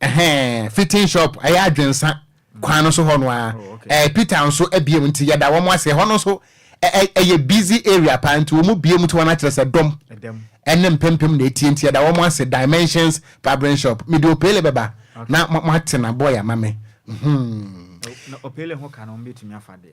A: Ɛhɛn,
C: fitting shop,
A: ɛyɛ adwensa kwan no so hɔ no ara. Ɛɛ, Peter nso abiem nti yɛda wɔn ase. Ɛhɔ no nso ɛ ɛ ɛyɛ busy area paa nti wɔn abiem nti wɔn akyerɛ sɛ dɔm ɛne mpempem na atie nti yɛda wɔn ase. Dimensions Barbering Shop, mede Opele bɛba na mo mo ate na boy ama me. Mhmm.
C: Na Opele ho ka no wɔn betumi afa deɛ.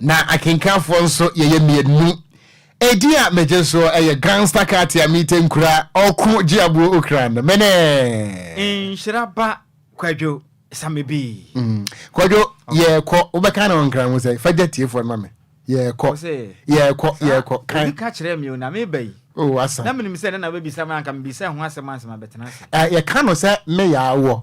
A: Na akenkanfoɔ nso yɛyɛ mmiennu. Edin a megye soɔ ɛyɛ Gangsta Katia Mite Nkura Ɔko Gyeabuo Okra no mene. Nhyira ba
C: Kwadwo Samebii. Kwadwo,
A: yɛɛkɔ, wobɛka ne ho nkra ho sɛn? Fa gya tiefoɔ no ma me. Yɛɛkɔ, Ose, yɛɛkɔ, saa, yɛɛkɔ,
C: ka. obi ka kyerɛɛ me o, na meba yi. Oh, asa. Na menim sɛ
A: ɛnnɛ na wobɛbisa
C: me, anka mebisa ɛho asɛm ansa mabɛtena ase. Ɛ, yɛka no sɛ me
A: yaa wɔ,